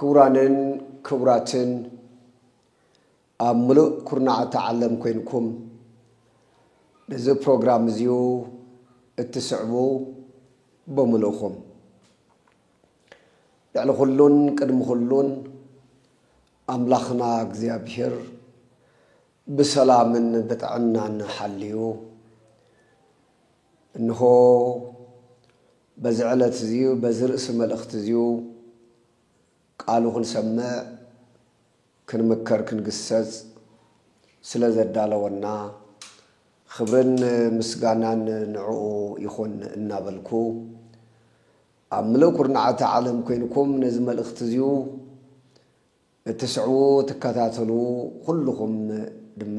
ክቡራንን ክቡራትን ኣብ ምሉእ ኩርናዓት ዓለም ኮይንኩም ነዚ ፕሮግራም እዚዩ እትስዕቡ ብምልእኹም ልዕሊ ኩሉን ቅድሚ ኩሉን ኣምላኽና እግዚኣብሔር ብሰላምን ብጥዕናን ሓልዩ እንሆ በዚ ዕለት እዚ በዚ ርእሲ መልእኽቲ እዚ ቃሉ ክንሰምዕ ክንምከር ክንግሰጽ ስለ ዘዳለወና ኽብርን ምስጋናን ንዕኡ ይኹን እናበልኩ ኣብ ምሉእ ኩርናዓት ዓለም ኮይንኩም ነዚ መልእኽቲ እዚ እትስዕቡ ትከታተሉ ኩሉኹም ድማ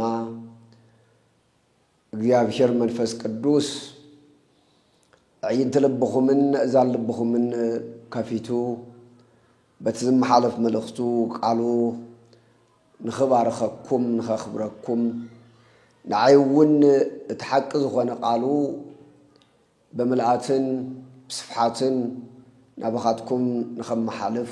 እግዚኣብሄር መንፈስ ቅዱስ ኣዕይንቲ ልብኹምን ነእዛን ልብኹምን ከፊቱ በቲ ዝመሓለፍ መልእኽቱ ቃሉ ንኽባርኸኩም ንኸኽብረኩም ንዓይ እውን እቲ ሓቂ ዝኾነ ቃሉ ብምልኣትን ብስፍሓትን ናባኻትኩም ንኸመሓልፍ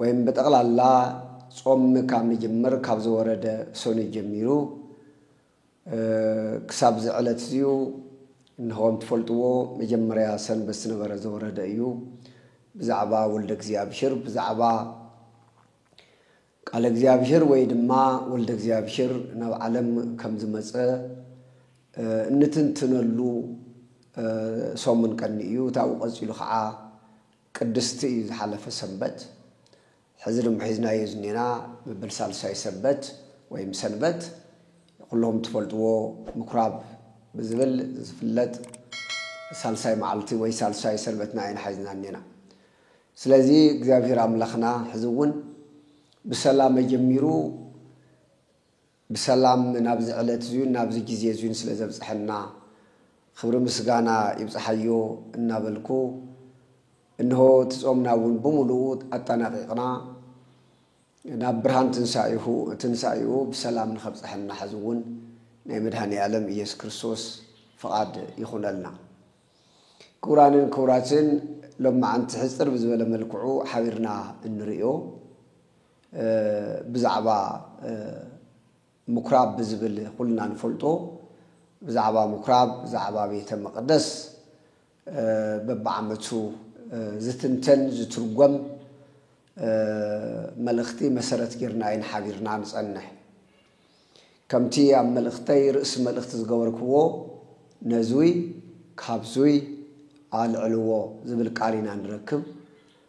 ወይም ብጠቕላላ ጾም ምካብ ምጅምር ካብ ዝወረደ ሰኑይ ጀሚሩ ክሳብ እዚ ዕለት እዚዩ እንሆ ከም ትፈልጥዎ መጀመርያ ሰንበት ዝነበረ ዘወረደ እዩ ብዛዕባ ወልደ እግዚኣብሔር ብዛዕባ ቃለ እግዚኣብሔር ወይ ድማ ወልደ እግዚኣብሔር ናብ ዓለም ከም ዝመጸ እንትንትነሉ ሰሙን ቀኒ እዩ ታብኡ ቀጺሉ ከዓ ቅድስቲ እዩ ዝሓለፈ ሰንበት ሕዚ ድማ ሒዝናዮ ዝኔና መበል ሳልሳይ ሰበት ወይም ሰንበት ኩሎም ትፈልጥዎ ምኩራብ ብዝብል ዝፍለጥ ሳልሳይ መዓልቲ ወይ ሳልሳይ ሰንበትና ኢና ሒዝና እኔና ስለዚ እግዚኣብሔር ኣምላኽና ሕዚ እውን ብሰላም ኣጀሚሩ ብሰላም ናብዚ ዕለት እዙዩን ናብዚ ጊዜ እዙዩን ስለ ዘብፀሐና ኽብሪ ምስጋና ይብፀሓዮ እናበልኩ እንሆ እቲ ፆምና እውን ብሙሉኡ ኣጠናቒቕና ናብ ብርሃን ትንሳኤሁ ትንሳኤኡ ብሰላም ንኸብፀሐና ሐዚ እውን ናይ መድኃኔዓለም ኢየሱስ ክርስቶስ ፍቓድ ይኹነልና። ክቡራንን ክቡራትን ሎምዓንቲ ሕፅር ብዝበለ መልክዑ ሓቢርና እንርእዮ ብዛዕባ ምኵራብ ብዝብል ዅልና ንፈልጦ ብዛዕባ ምኵራብ ብዛዕባ ቤተ መቕደስ በብዓመቱ ዝትንተን ዝትርጐም መልእኽቲ መሰረት ጌርና ኢና ሓቢርና ንጸንሕ። ከምቲ ኣብ መልእኽተይ ርእሲ መልእኽቲ ዝገበርክዎ ነዙይ ካብዙይ ኣልዕልዎ ዝብል ቃል ኢና ንረክብ።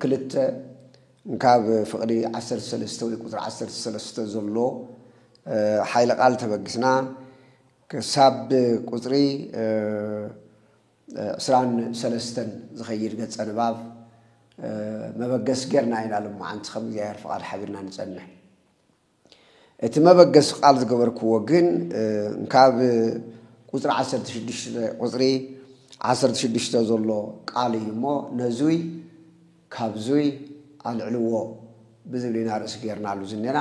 ክልተ፣ ካብ ፍቕዲ ዓሰርተ ሰለስተ ወይ ቁጽሪ ዓሰርተ ሰለስተ ዘሎ ሓይለ ቃል ተበጊስና ክሳብ ቁጽሪ ዕስራን ሰለስተን ዝኸይድ ገጸ ንባብ መበገሲ ጌርና ኢና ሎማዓንቲ ከም እግዚኣብሔር ፍቓድ ሓቢርና ንጸንሕ። እቲ መበገሲ ቃል ዝገበርክዎ ግን እንካብ ቁፅሪ ዓሰርተ ሽዱሽተ ቁፅሪ ዓሰርተ ሽዱሽተ ዘሎ ቃል እዩ እሞ ነዙይ ካብዙይ ኣልዕልዎ ብዝብል ኢና ርእሲ ገይርናሉ ዝኔና።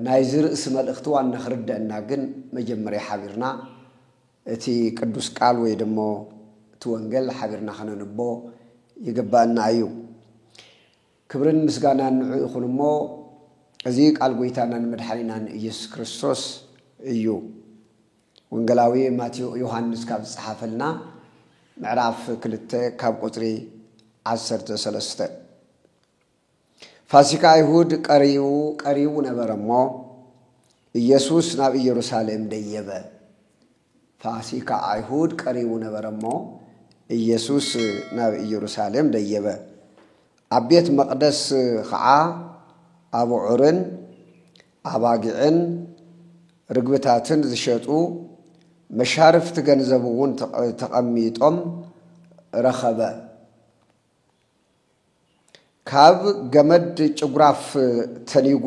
ናይዚ ርእሲ መልእኽቲ ዋና ክርደእና ግን መጀመርያ ሓቢርና እቲ ቅዱስ ቃል ወይ ደሞ እቲ ወንገል ሓቢርና ከነንቦ ይግበእና እዩ። ክብርን ምስጋናን ንዑ ይኹን እሞ እዚ ቃል ጎይታናን መድሓኒናን እየሱስ ክርስቶስ እዩ ወንገላዊ ማቴዎ ዮሃንስ ካብ ዝጸሓፈልና ምዕራፍ ክልተ ካብ ቁጽሪ ዓሰርተ ሰለስተ ፋሲካ ኣይሁድ ቀሪቡ ቀሪቡ ነበረ እሞ እየሱስ ናብ ኢየሩሳሌም ደየበ ፋሲካ ኣይሁድ ቀሪቡ ነበረ እሞ፣ ኢየሱስ ናብ ኢየሩሳሌም ደየበ። ኣብ ቤት መቕደስ ኸዓ ኣቡዑርን ኣባጊዕን ርግብታትን ዝሸጡ መሻርፍቲ ገንዘብውን ተቐሚጦም ረኸበ። ካብ ገመድ ጭጉራፍ ተኒጉ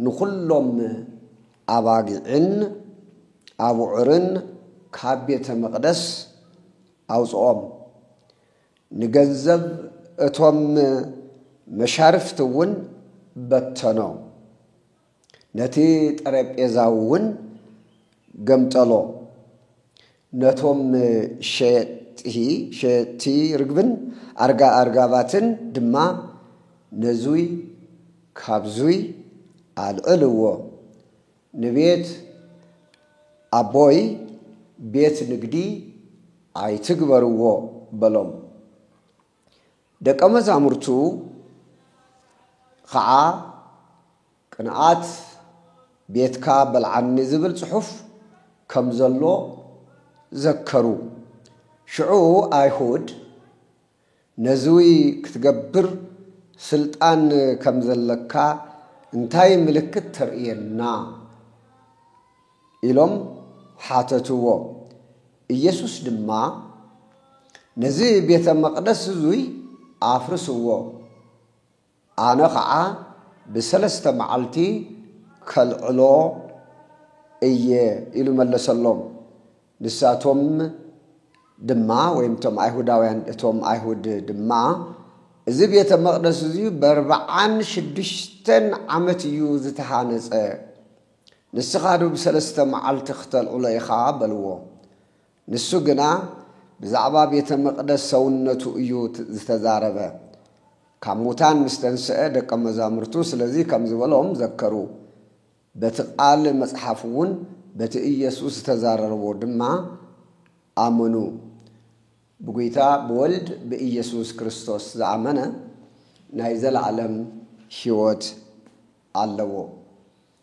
ንኹሎም ኣባጊዕን ኣቡዑርን ካብ ቤተ መቕደስ ኣውፅኦም። ንገንዘብ እቶም መሻርፍቲ እውን በተኖ። ነቲ ጠረጴዛ'ውን ገምጠሎ። ነቶም ሸየጥቲ ሸየጥቲ ርግብን ኣርጋ ኣርጋባትን ድማ ነዙይ ካብዙይ ኣልዕልዎ። ንቤት ኣቦይ ቤት ንግዲ ኣይትግበርዎ በሎም። ደቀ መዛሙርቱ ኸዓ ቅንኣት ቤትካ በልዓኒ ዝብል ጽሑፍ ከም ዘሎ ዘከሩ። ሽዑ ኣይሁድ ነዝዊ ክትገብር ስልጣን ከም ዘለካ እንታይ ምልክት ተርእየና? ኢሎም ሓተትዎ። ኢየሱስ ድማ ነዚ ቤተ መቕደስ እዙይ ኣፍርስዎ፣ ኣነ ኸዓ ብሰለስተ መዓልቲ ከልዕሎ እየ ኢሉ መለሰሎም። ንሳቶም ድማ ወይም እቶም ኣይሁዳውያን እቶም ኣይሁድ ድማ እዚ ቤተ መቕደስ እዙይ በርብዓን ሽዱሽተን ዓመት እዩ ዝተሃነፀ ንስኻ ዶ ብሰለስተ መዓልቲ ክተልዕሎ ኢኻ? በልዎ። ንሱ ግና ብዛዕባ ቤተ መቕደስ ሰውነቱ እዩ ዝተዛረበ። ካብ ሙታን ምስ ተንስአ ደቀ መዛሙርቱ ስለዚ ከም ዝበሎም ዘከሩ። በቲ ቓል መጽሓፍ እውን በቲ ኢየሱስ ዝተዛረርቦ ድማ ኣመኑ። ብጉይታ ብወልድ ብኢየሱስ ክርስቶስ ዝኣመነ ናይ ዘለኣለም ሕይወት ኣለዎ።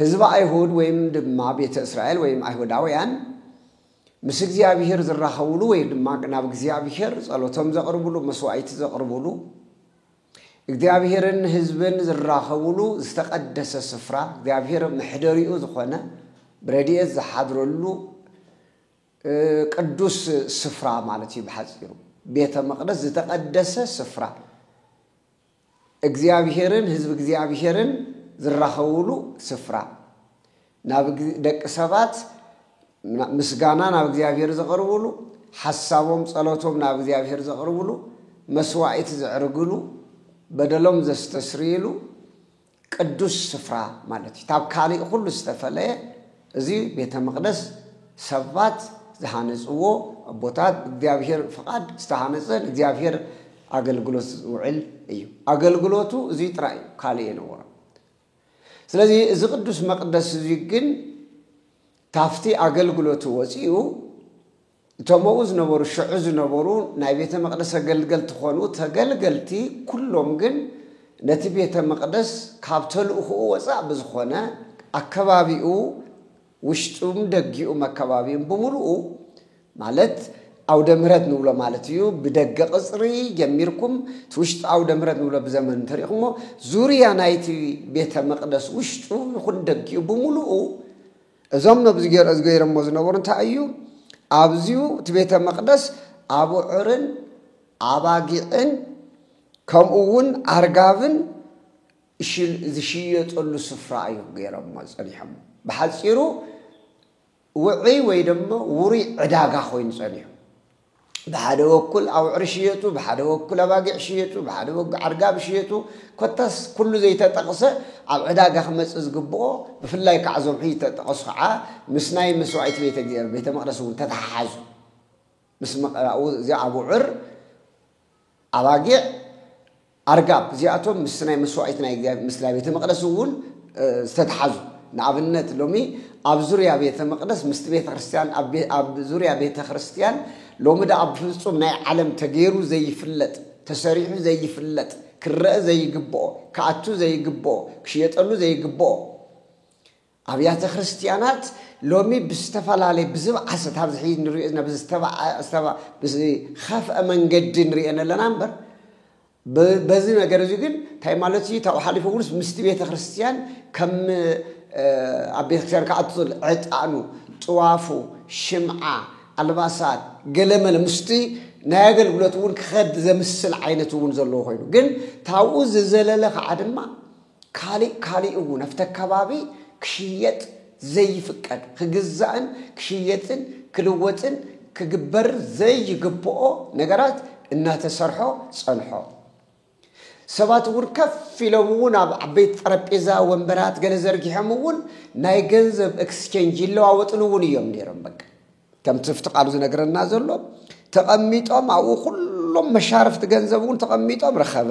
ህዝቢ ኣይሁድ ወይም ድማ ቤተ እስራኤል ወይም ኣይሁዳውያን ምስ እግዚኣብሔር ዝራኸቡሉ ወይ ድማ ናብ እግዚኣብሔር ጸሎቶም ዘቕርቡሉ መስዋዕቲ ዘቕርቡሉ እግዚኣብሔርን ህዝብን ዝራኸቡሉ ዝተቐደሰ ስፍራ እግዚኣብሔር መሕደሪኡ ዝኾነ ብረድኤት ዝሓድረሉ ቅዱስ ስፍራ ማለት እዩ ብሓፂሩ ቤተ መቅደስ ዝተቀደሰ ስፍራ እግዚኣብሄርን ህዝቢ እግዚኣብሄርን ዝራኸቡሉ ስፍራ ናብ ደቂ ሰባት ምስጋና ናብ እግዚኣብሄር ዘቕርቡሉ ሓሳቦም ጸሎቶም ናብ እግዚኣብሄር ዘቕርቡሉ መስዋዕት ዘዕርግሉ በደሎም ዘስተስርይሉ ቅዱስ ስፍራ ማለት እዩ። ታብ ካልእ ኹሉ ዝተፈለየ እዚ ቤተ መቕደስ ሰባት ዝሃነጽዎ ኣቦታት ብእግዚኣብሔር ፍቓድ ዝተሃነጸ ንእግዚኣብሔር ኣገልግሎት ዝውዕል እዩ። ኣገልግሎቱ እዚ ጥራይ እዩ፣ ካልእ የነበሮን። ስለዚ እዚ ቅዱስ መቕደስ እዚ ግን ታፍቲ ኣገልግሎቱ ወጺኡ እቶም ኣብኡ ዝነበሩ ሽዑ ዝነበሩ ናይ ቤተ መቕደስ ኣገልገልቲ ዀኑ፣ ተገልገልቲ ኵሎም ግን ነቲ ቤተ መቕደስ ካብ ተልእኾኡ ወጻእ ብዝዀነ ኣከባቢኡ ውሽጡን ደጊኡም ኣከባቢኡን ብምሉኡ ማለት ኣውደ ምህረት ንብሎ ማለት እዩ ብደገ ቅጽሪ ጀሚርኩም እቲ ውሽጢ ኣውደ ምህረት ንብሎ ብዘመን እንተሪእኹሞ ዙርያ ናይቲ ቤተ መቕደስ ውሽጡ ይኹን ደጊኡ ብምሉኡ እዞም ነብዝጌርኦዝ ገይረሞ ዝነበሩ እንታይ እዩ ኣብዚዩ እቲ ቤተ መቅደስ ኣቡዑርን ኣባጊዕን ከምኡ ውን ኣርጋብን ዝሽየጠሉ ስፍራ እዩ ገይረሞ ጸኒሖም ብሓጺሩ ውዕይ ወይ ድማ ውሩይ ዕዳጋ ኮይኑ ጸኒሑ ብሓደ ወኩል ኣውዕር ሽየጡ፣ ብሓደ ወኩል ኣባጊዕ ሽየጡ፣ ብሓደ ወግ ዓርጋብ ሽየጡ፣ ኮታስ ኩሉ ዘይተጠቕሰ ኣብ ዕዳጋ ክመጽእ ዝግብኦ፣ ብፍላይ ከኣ እዞም ሕጂ ዝተጠቐሱ ከኣ ምስ ናይ መስዋኢት ቤተ እግዚኣብሔር ቤተ መቕደስ እውን ተተሓሓዙ ምስ ምቕራኡ እዚ ኣቡዕር ኣባጊዕ ኣርጋብ እዚኣቶም ምስቲ ናይ መስዋኢት ናይ እግዚኣብሔር ምስላይ ቤተ መቅደስ እውን ዝተተሓዙ ንኣብነት ሎሚ ኣብ ዙርያ ቤተ መቅደስ ምስቲ ቤተ ክርስቲያን ኣብ ዙርያ ቤተ ክርስቲያን ሎሚ ደኣ ብፍጹም ናይ ዓለም ተገይሩ ዘይፍለጥ ተሰሪሑ ዘይፍለጥ ክረአ ዘይግብኦ ክኣቱ ዘይግብኦ ክሽየጠሉ ዘይግብኦ ኣብያተ ክርስትያናት ሎሚ ብዝተፈላለየ ብዝብዓሰት ኣብዚ ሕዚ ንሪኦ ዘለና ብዝኸፍአ መንገዲ ንሪኤን ኣለና እምበር በዚ ነገር እዚ ግን እንታይ ማለት እዩ ታብኡ ሓሊፉ እውንስ ምስቲ ቤተ ክርስትያን ከም ኣብ ቤተ ክርስትያን ክኣቱ ዝል ዕጣኑ ጥዋፉ ሽምዓ ኣልባሳት ገለመለ ምስቲ ናይ ኣገልግሎት እውን ክኸድ ዘምስል ዓይነት እውን ዘለዎ ኮይኑ ግን ታብኡ ዝዘለለ ከዓ ድማ ካሊእ ካሊእ እውን ኣብቲ ኣከባቢ ክሽየጥ ዘይፍቀድ፣ ክግዛእን ክሽየጥን ክልወጥን ክግበርን ዘይግበኦ ነገራት እናተሰርሖ ፀንሖ። ሰባት እውን ከፍ ኢሎም እውን ኣብ ዓበይቲ ጠረጴዛ ወንበራት ገለ ዘርጊሖም እውን ናይ ገንዘብ ኤክስቼንጅ ይለዋወጥሉ እውን እዮም ነይሮም። በቃ ከምቲ ኣብቲ ቃሉ ዝነግረና ዘሎ ተቐሚጦም ኣብኡ ኩሎም መሻርፍቲ ገንዘብ እውን ተቐሚጦም ረኸበ።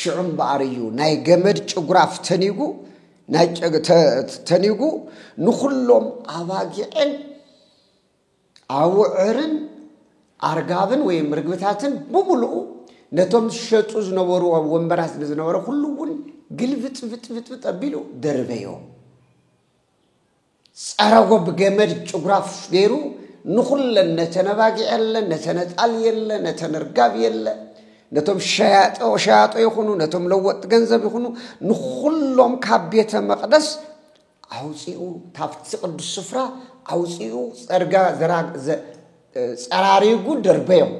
ሽዑ እምበኣር እዩ ናይ ገመድ ጭጉራፍ ተኒጉ ናይ ተኒጉ ንኹሎም ኣባጊዕን ኣውዕርን ኣርጋብን ወይም ርግብታትን ብምሉኡ ነቶም ዝሸጡ ዝነበሩ ኣብ ወንበራት ንዝነበረ ኩሉ እውን ግልብጥብጥብጥብጥ ኣቢሉ ደርበዮም ጸረጎ ብገመድ ጭጉራፍ ገይሩ ንኹለን ነተን ኣባጊዕ የለ ነተን ኣጣል የለ ነተን እርጋብ የለ ነቶም ሸያጦ ሸያጦ ይኹኑ ነቶም ለወጥ ገንዘብ ይኹኑ ንኹሎም ካብ ቤተ መቕደስ ኣውፂኡ ካብቲ ቅዱስ ስፍራ ኣውፂኡ ጸርጋ ጸራሪጉ ደርበዮም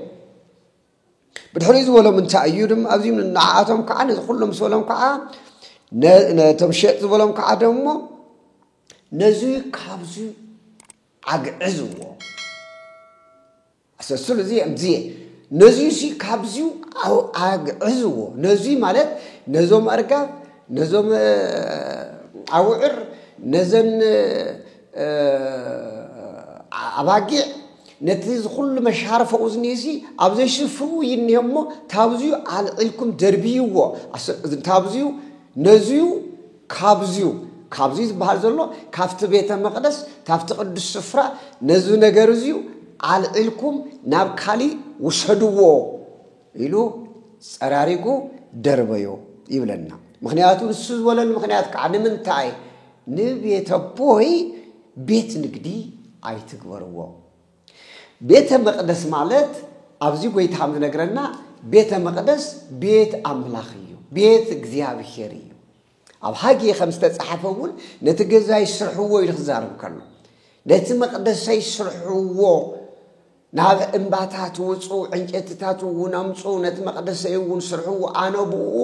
ብድሕሪኡ ዝበሎም እንታይ እዩ ድማ ኣብዚም ንዓኣቶም ከዓ ነዚ ኩሉ ምስ በሎም ከዓ ነቶም ሸጥ ዝበሎም ከዓ ደሞ ነዚ ካብዚ ዓግዕዝዎ ኣሰስሉ እዚ እዚ ነዚ ሲ ካብዚ ዓግዕዝዎ ነዚ ማለት ነዞም ኣርጋብ ነዞም ኣውዕር ነዘን ኣባጊዕ ነቲ እዚ ኩሉ መሻርፈኡ ዝኒህሲ ኣብ ዘይሽፍኡ ይኒሀ እሞ ታብዝዩ ኣልዒልኩም ደርብይዎ ታብዝዩ ነዝዩ ካብዝዩ ካብዝዩ ዝበሃል ዘሎ ካብቲ ቤተ መቕደስ ካብቲ ቅዱስ ስፍራ ነዚ ነገር እዚዩ ኣልዒልኩም ናብ ካሊእ ውሰድዎ ኢሉ ጸራሪጉ ደርበዮ ይብለና። ምክንያቱ ንሱ ዝበለሉ ምክንያት ከዓ ንምንታይ ንቤተቦይ ቤት ንግዲ ኣይትግበርዎ። ቤተ መቅደስ ማለት ኣብዚ ጎይታ ከም ዝነግረና ቤተ መቅደስ ቤት ኣምላኽ እዩ፣ ቤት እግዚኣብሄር እዩ። ኣብ ሃጌ ከም ዝተጻሓፈ እውን ነቲ ገዛይ ስርሕዎ ኢሉ ክዛርብ ከሎ ነቲ መቅደሰይ ስርሕዎ ናብ እምባታት ውጹ፣ ዕንጨትታት እውን ኣምጹ፣ ነቲ መቕደሰይ እውን ስርሕዎ፣ ኣነ ብእኡ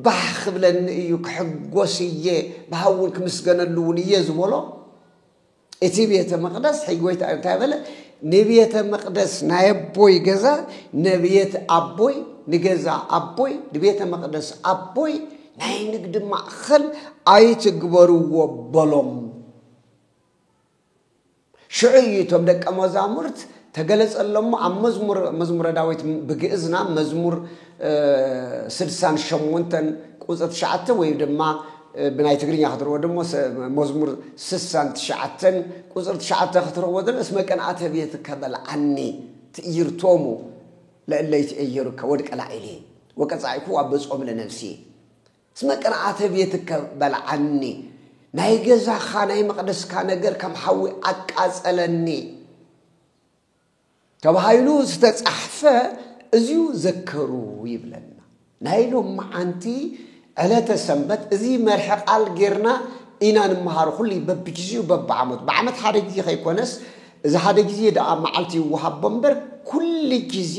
ባህ ክብለኒ እዩ፣ ክሕጎስ እየ፣ ብሃውን ክምስገነሉ እውን እየ ዝበሎ እቲ ቤተ መቕደስ ሕይ ጎይታ እንታይ በለ? ንቤተ መቕደስ ናይ ኣቦይ ገዛ ነብየት ኣቦይ ንገዛ ኣቦይ ንቤተ መቕደስ ኣቦይ ናይ ንግዲ ማእኸል ኣይትግበርዎ በሎም። ሽዑ እዩ እቶም ደቀ መዛሙርት ተገለጸሎም እሞ ኣብ መዝሙር መዝሙረ ዳዊት ብግእዝና መዝሙር ስድሳን ሸሞንተን ቁጽሪ ትሽዓተ ወይ ድማ ብናይ ትግርኛ ክትርዎ ድሞ መዝሙር ስሳን ትሽዓተን ቁጽሪ ትሽዓተ ክትርዎ ድን እስመ ቅንኣተ ቤትከ በልዓኒ ትእይርቶሙ ለእለ ይትእየሩከ ወድቀ ላዒሊ ወቀጻኢኩዋ ብጾም ለነፍሲ እስመ ቅንዓተ ቤትከ በልዓኒ፣ ናይ ገዛኻ ናይ መቕደስካ ነገር ከም ሓዊ ኣቃጸለኒ ተባሂሉ ዝተጻሕፈ እዚዩ ዘከሩ ይብለና። ናይ ሎምዓንቲ ዕለተ ሰንበት እዚ መርሒ ቃል ጌርና ኢና ንመሃሮ ኩሉ በብግዜኡ በብዓመቱ ብዓመት ሓደ ግዜ ከይኮነስ እዚ ሓደ ግዜ ደኣ መዓልቲ ይወሃቦ እምበር ኩሉ ግዜ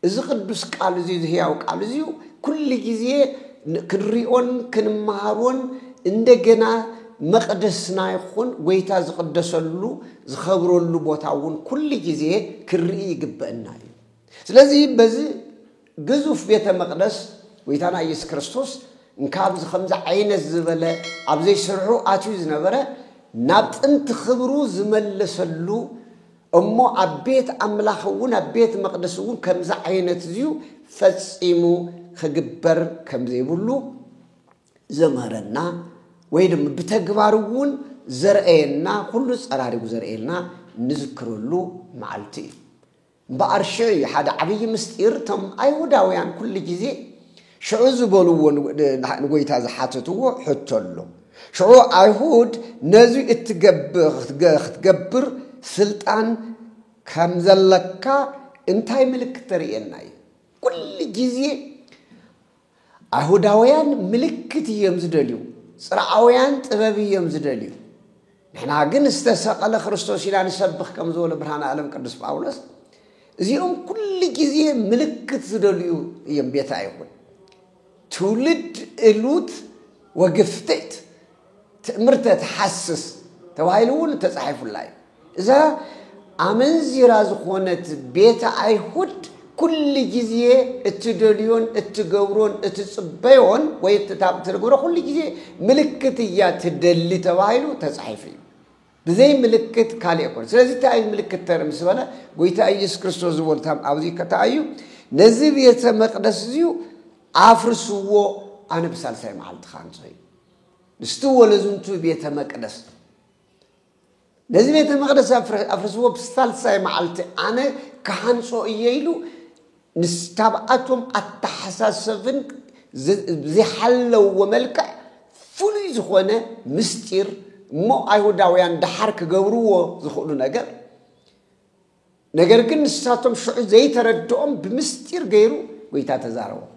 እዚ ቅዱስ ቃል እዚ እዚ ህያው ቃል እዚ ኩሉ ግዜ ክንሪኦን ክንመሃሮን እንደገና መቕደስና ይኹን ጎይታ ዝቕደሰሉ ዝኸብረሉ ቦታ እውን ኩሉ ግዜ ክንርኢ ይግበእና እዩ። ስለዚ በዚ ግዙፍ ቤተ መቕደስ ጎይታና ኢየሱስ ክርስቶስ እንካብዚ ከምዚ ዓይነት ዝበለ ኣብዘይ ስርሑ ኣትዩ ዝነበረ ናብ ጥንቲ ክብሩ ዝመለሰሉ እሞ ኣብ ቤት ኣምላኽ እውን ኣብ ቤት መቕደስ እውን ከምዚ ዓይነት እዚዩ ፈጺሙ ክግበር ከም ዘይብሉ ዘምህረና ወይ ድማ ብተግባር እውን ዘርእየና ኩሉ ጸራሪጉ ዘርእየልና ንዝክረሉ መዓልቲ እዩ እምበኣር ሽዑ እዩ ሓደ ዓብዪ ምስጢር እቶም ኣይሁዳውያን ኩሉ ግዜ ሽዑ ዝበልዎ ንጐይታ ዝሓተትዎ ሕቶ ኣሎ። ሽዑ ኣይሁድ ነዚ ክትገብር ስልጣን ከም ዘለካ እንታይ ምልክት ተርእየና እዩ? ኩሉ ግዜ ኣይሁዳውያን ምልክት እዮም ዝደልዩ፣ ጽርዓውያን ጥበብ እዮም ዝደልዩ። ንሕና ግን ዝተሰቐለ ክርስቶስ ኢና ንሰብኽ ከም ዝበሎ ብርሃነ ኣለም ቅዱስ ጳውሎስ እዚኦም ኩሉ ግዜ ምልክት ዝደልዩ እዮም ቤታ ይኹን ትውልድ እሉት ወግፍትት ትእምርተ ተሓስስ ተባሂሉ እውን ተጻሒፉላ እዩ እዛ ኣመንዚራ ዝኾነት ቤተ ኣይሁድ ኩሉ ግዜ እትደልዮን እትገብሮን እትጽበዮን ወይ እትትገብሮ ኩሉ ግዜ ምልክት እያ ትደሊ ተባሂሉ ተጻሒፉ እዩ ብዘይ ምልክት ካልእ ኣይኮነ ስለዚ እንታይ እዩ ምልክት ተርኢ ምስ በለ ጎይታ ኢየሱስ ክርስቶስ ዝበሉ ታም ኣብዚ ከታኣ እዩ ነዚ ቤተ መቅደስ እዚዩ ኣፍርስዎ ኣነ ብሳልሳይ መዓልቲ ካንጾ እዩ ምስቲ ወለዝንቱ ቤተ መቅደስ ነዚ ቤተ መቕደስ ኣፍርስዎ ብሳልሳይ መዓልቲ ኣነ ክሃንጾ እየ ኢሉ ንስካብኣቶም ኣተሓሳሰብን ዘይሓለውዎ መልክዕ ፍሉይ ዝኾነ ምስጢር እሞ ኣይሁዳውያን ደሓር ክገብርዎ ዝኽእሉ ነገር ነገር ግን ንሳቶም ሽዑ ዘይተረድኦም ብምስጢር ገይሩ ጎይታ ተዛረቦም።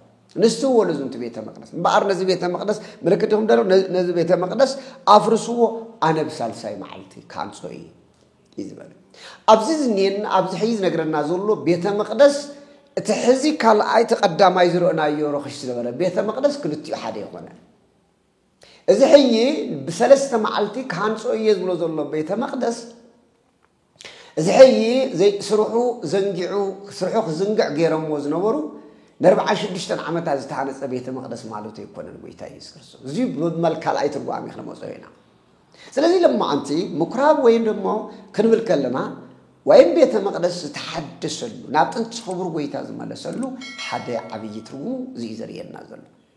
ንስትዎ ለዝንቱ ቤተ መቅደስ እምበኣር ነዚ ቤተ መቅደስ ምልክት ይኹም ደሎ ነዚ ቤተ መቅደስ ኣፍርስዎ ኣነ ብሳልሳይ መዓልቲ ክሃንጾ እዩ እዩ ዝበለ ኣብዚ ዝኒኤን ኣብዚ ሕዚ ዝነግረና ዘሎ ቤተ መቅደስ እቲ ሕዚ ካልኣይ እቲ ቀዳማይ ዝርእናዮ ረኽሽ ዝነበረ ቤተ መቅደስ ክልቲኡ ሓደ ይኾነ እዚ ሕጂ ብሰለስተ መዓልቲ ክሃንጾ እየ ዝብሎ ዘሎ ቤተ መቅደስ እዚ ሕይ ዘይ ስርሑ ዘንጊዑ ስርሑ ክዝንግዕ ገይረምዎ ዝነበሩ ነርብዓን ሽዱሽተን ዓመታት ዝተሃነጸ ቤተ መቅደስ ማለቱ ኣይኮነን ጎይታ ኢየሱስ ክርስቶስ እዚ ብመል ካልኣይ ትርጓሜ ክነመጾ ኢና ስለዚህ ለማዓንቲ ምኩራብ ወይም ደሞ ክንብል ከለና ወይም ቤተ መቅደስ ዝተሓደሰሉ ናብ ጥንቲ ክቡር ጎይታ ዝመለሰሉ ሓደ ዓብይ ትርጉሙ እዚ እዩ ዘርእየና ዘሎ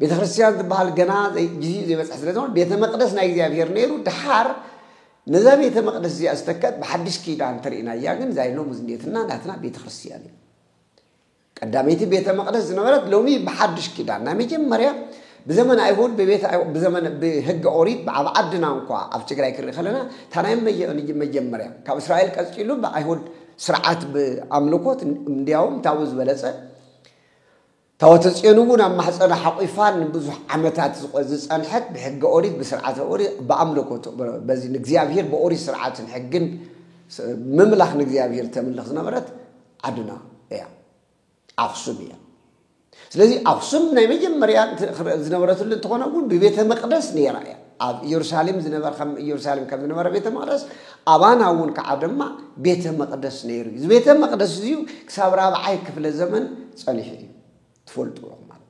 ቤተ ክርስትያን ዝበሃል ገና ግዚኡ ዘይበጽሐ ስለ ዝኾነ ቤተ መቅደስ ናይ እግዚኣብሔር ነይሩ ድሓር ነዛ ቤተ መቅደስ እዚኣ ዝተከት ብሓድሽ ኪዳን እንተርእናያ ግን እዛ ሎሚ ዝኔትና ናትና ቤተ ክርስትያን እዩ ቀዳመይቲ ቤተ መቅደስ ዝነበረት ሎሚ ብሓድሽ ኪዳን ናይ መጀመርያ ብዘመን ኣይሁድ ብቤት ብዘመን ብህገ ኦሪት ኣብ ዓድና እንኳ ኣብ ትግራይ ክርኢ ከለና እታ ናይ መጀመርያ ካብ እስራኤል ቀፂሉ ብኣይሁድ ስርዓት ብኣምልኮት እንዲያውም ታቡ ዝበለፀ ታወተጽዮን እውን ኣብ ማሕጸና ሓቑፋ ንብዙሕ ዓመታት ዝጸንሐት ብሕገ ኦሪት ብስርዓተ ኦሪ ብኣምልኮ በዚ ንእግዚኣብሔር ብኦሪት ስርዓትን ሕግን ምምላኽ ንእግዚኣብሔር ተምልኽ ዝነበረት ዓድና እያ ኣኽሱም እያ ስለዚ ኣኽሱም ናይ መጀመርያ ዝነበረትሉ እንተኾነ እውን ብቤተ መቅደስ ነይራ እያ ኣብ እየሩሳሌም ዝነበረ ከም እየሩሳሌም ከም ዝነበረ ቤተ መቅደስ ኣባና እውን ከዓ ድማ ቤተ መቅደስ ነይሩ እዩ። እዚ ቤተ መቅደስ እዚዩ ክሳብ ራብዓይ ክፍለ ዘመን ጸኒሑ እዩ ትፈልጡ ኢኹም ማለት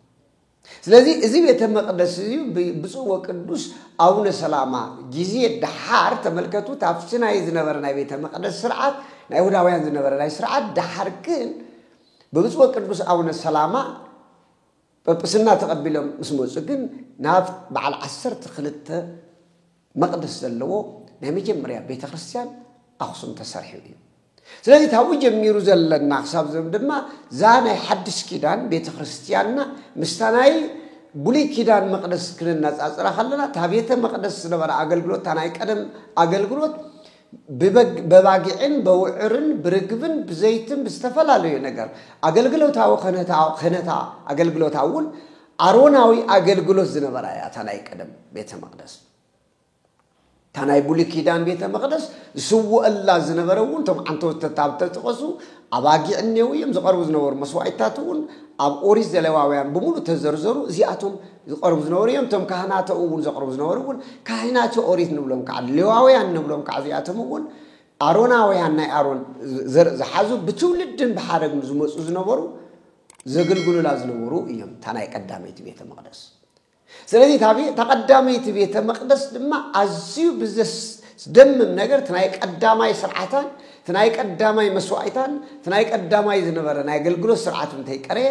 ስለዚ እዚ ቤተ መቅደስ እዚዩ ብፁዕ ወቅዱስ ኣቡነ ሰላማ ጊዜ ደሓር ተመልከቱ ታብቲ ናይ ዝነበረ ናይ ቤተ መቅደስ ስርዓት ናይ ይሁዳውያን ዝነበረ ናይ ስርዓት ደሓር ግን ብብፁዕ ወቅዱስ ኣቡነ ሰላማ ጵጵስና ተቐቢሎም ምስ መጹ ግን ናብ በዓል ዓሰርተ ክልተ መቕደስ ዘለዎ ናይ መጀመርያ ቤተ ክርስቲያን ኣኽሱም ተሰርሑ እዩ። ስለዚ ካብኡ ጀሚሩ ዘለና ክሳብ ዞም ድማ እዛ ናይ ሓድሽ ኪዳን ቤተ ክርስቲያንና ምስታ ናይ ብሉይ ኪዳን መቕደስ ክነነጻጽራ ከለና እታ ቤተ መቕደስ ዝነበረ ኣገልግሎት እታ ናይ ቀደም ኣገልግሎት ብበግ በባጊዕን በውዕርን ብርግብን ብዘይትን ብዝተፈላለዩ ነገር ኣገልግሎታዊ ከነታ ከነታ ኣገልግሎታ እውን ኣሮናዊ ኣገልግሎት ዝነበራ እያ እታ ናይ ቀደም ቤተ መቕደስ እታ ናይ ብሉይ ኪዳን ቤተ መቕደስ ዝስውአላ ዝነበረ እውን እቶም ዓንተወተት ኣብ ተጠቐሱ ኣባጊዕ እኔው እዮም ዝቐርቡ ዝነበሩ መስዋዕትታት እውን ኣብ ኦሪት ዘለዋውያን ብምሉእ ተዘርዘሩ እዚኣቶም ዝቐርቡ ዝነበሩ እዮም። እቶም ካህናቶ እውን ዘቕርቡ ዝነበሩ እውን ካህናቸ ኦሪት ንብሎም ከዓ ሌዋውያን ንብሎም ከዓ እዚኣቶም እውን ኣሮናውያን ናይ ኣሮን ዘርኢ ዝሓዙ ብትውልድን ብሓረግን ዝመፁ ዝነበሩ ዘገልግሉላ ዝነበሩ እዮም እታ ናይ ቀዳመይቲ ቤተ መቅደስ ስለዚ እታ ቀዳመይቲ ቤተ መቅደስ ድማ ኣዝዩ ብዘስደምም ነገር እቲ ናይ ቀዳማይ ስርዓታን እቲ ናይ ቀዳማይ መስዋእታን እቲ ናይ ቀዳማይ ዝነበረ ናይ ኣገልግሎት ስርዓት እንተይቀረየ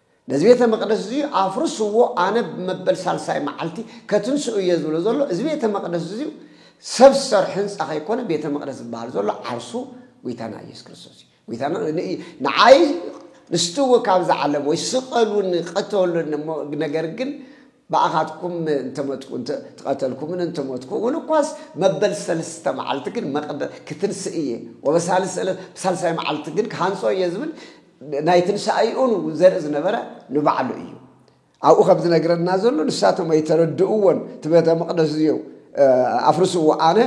ነዚ ቤተ መቕደስ እዚ ኣፍርስዎ፣ ኣነ ብ መበል ሳልሳይ መዓልቲ ከትንስኦ እየ ዝብሎ ዘሎ፣ እዚ ቤተ መቕደስ እዚ ሰብ ዝሰርሖ ህንጻ ከይኮነ ቤተ መቕደስ ዝበሃል ዘሎ ዓርሱ ጎይታና ኢየሱስ ክርስቶስ እዩ። ጎይታና ንዓይ ንስትዎ ካብ ዝዓለም ወይ ስቐሉኒ ቀተሉኒ እሞ ነገር ግን ብኣኻትኩም እንተመትኩ እንተቐተልኩምን እንተመትኩ እውን እኳስ መበል ሰለስተ መዓልቲ ግን መቕደ ክትንስእ እየ ወበሳልስ ዕለት ብሳልሳይ መዓልቲ ግን ክሃንጾ እየ ዝብል ናይ ትንሳኤኡን ዘርኢ ዝነበረ ንባዕሉ እዩ። ኣብኡ ከም ዝነግረና ዘሎ ንሳቶም ኣይተረድእዎን እቲ ቤተ መቅደስ እዚዮ ኣፍርስዎ ኣነ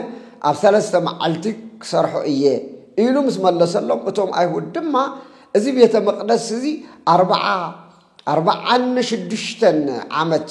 ኣብ ሰለስተ መዓልቲ ክሰርሖ እየ ኢሉ ምስ መለሰሎም እቶም ኣይሁድ ድማ እዚ ቤተ መቅደስ እዚ ኣርባዓ ኣርባዓን ሽዱሽተን ዓመት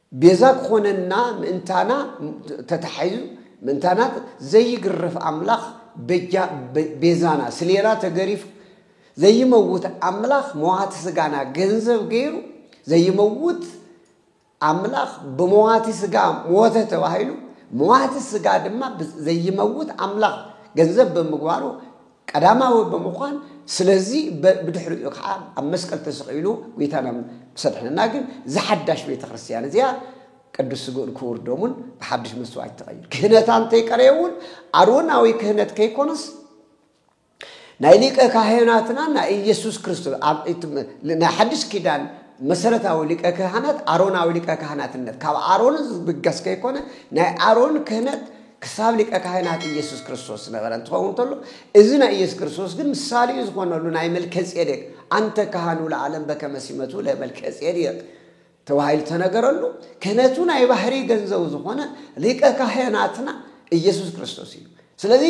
ቤዛ ክኾነና ምእንታና ተታሒዙ ምእንታና ዘይግረፍ ኣምላኽ በጃ ቤዛና ስሌና ተገሪፉ ዘይመውት ኣምላኽ መዋቲ ስጋና ገንዘብ ገይሩ ዘይመውት ኣምላኽ ብመዋቲ ስጋ ሞተ ተባሂሉ መዋቲ ስጋ ድማ ዘይመውት ኣምላኽ ገንዘብ ብምግባሩ ቀዳማዊ ብምዃን ስለዚ ብድሕሪኡ ከዓ ኣብ መስቀል ተሰቂሉ ጎይታና ምስ ኣድሐነና ግን እዛ ሓዳሽ ቤተ ክርስቲያን እዚኣ ቅዱስ ስግኡን ክቡር ደሙን ብሓድሽ መስዋዕት ተቐይሩ ክህነታ እንተይቀረየ እውን ኣሮናዊ ክህነት ከይኮነስ ናይ ሊቀ ካህናትና ናይ ኢየሱስ ክርስቶስ ናይ ሓድሽ ኪዳን መሰረታዊ ሊቀ ካህናት ኣሮናዊ ሊቀ ካህናትነት ካብ ኣሮን ዝብገስ ከይኮነ ናይ ኣሮን ክህነት ክሳብ ሊቀ ካህናት ኢየሱስ ክርስቶስ ዝነበረ እንትኸውን ተሎ እዚ ናይ ኢየሱስ ክርስቶስ ግን ምሳሌኡ ዝኾነሉ ናይ መልከ ጼዴቅ ኣንተ ካህኑ ለዓለም በከመ ሲመቱ ለመልከ ጼዴቅ ተባሂሉ ተነገረሉ ክህነቱ ናይ ባህሪ ገንዘቡ ዝኾነ ሊቀ ካህናትና ኢየሱስ ክርስቶስ እዩ ስለዚ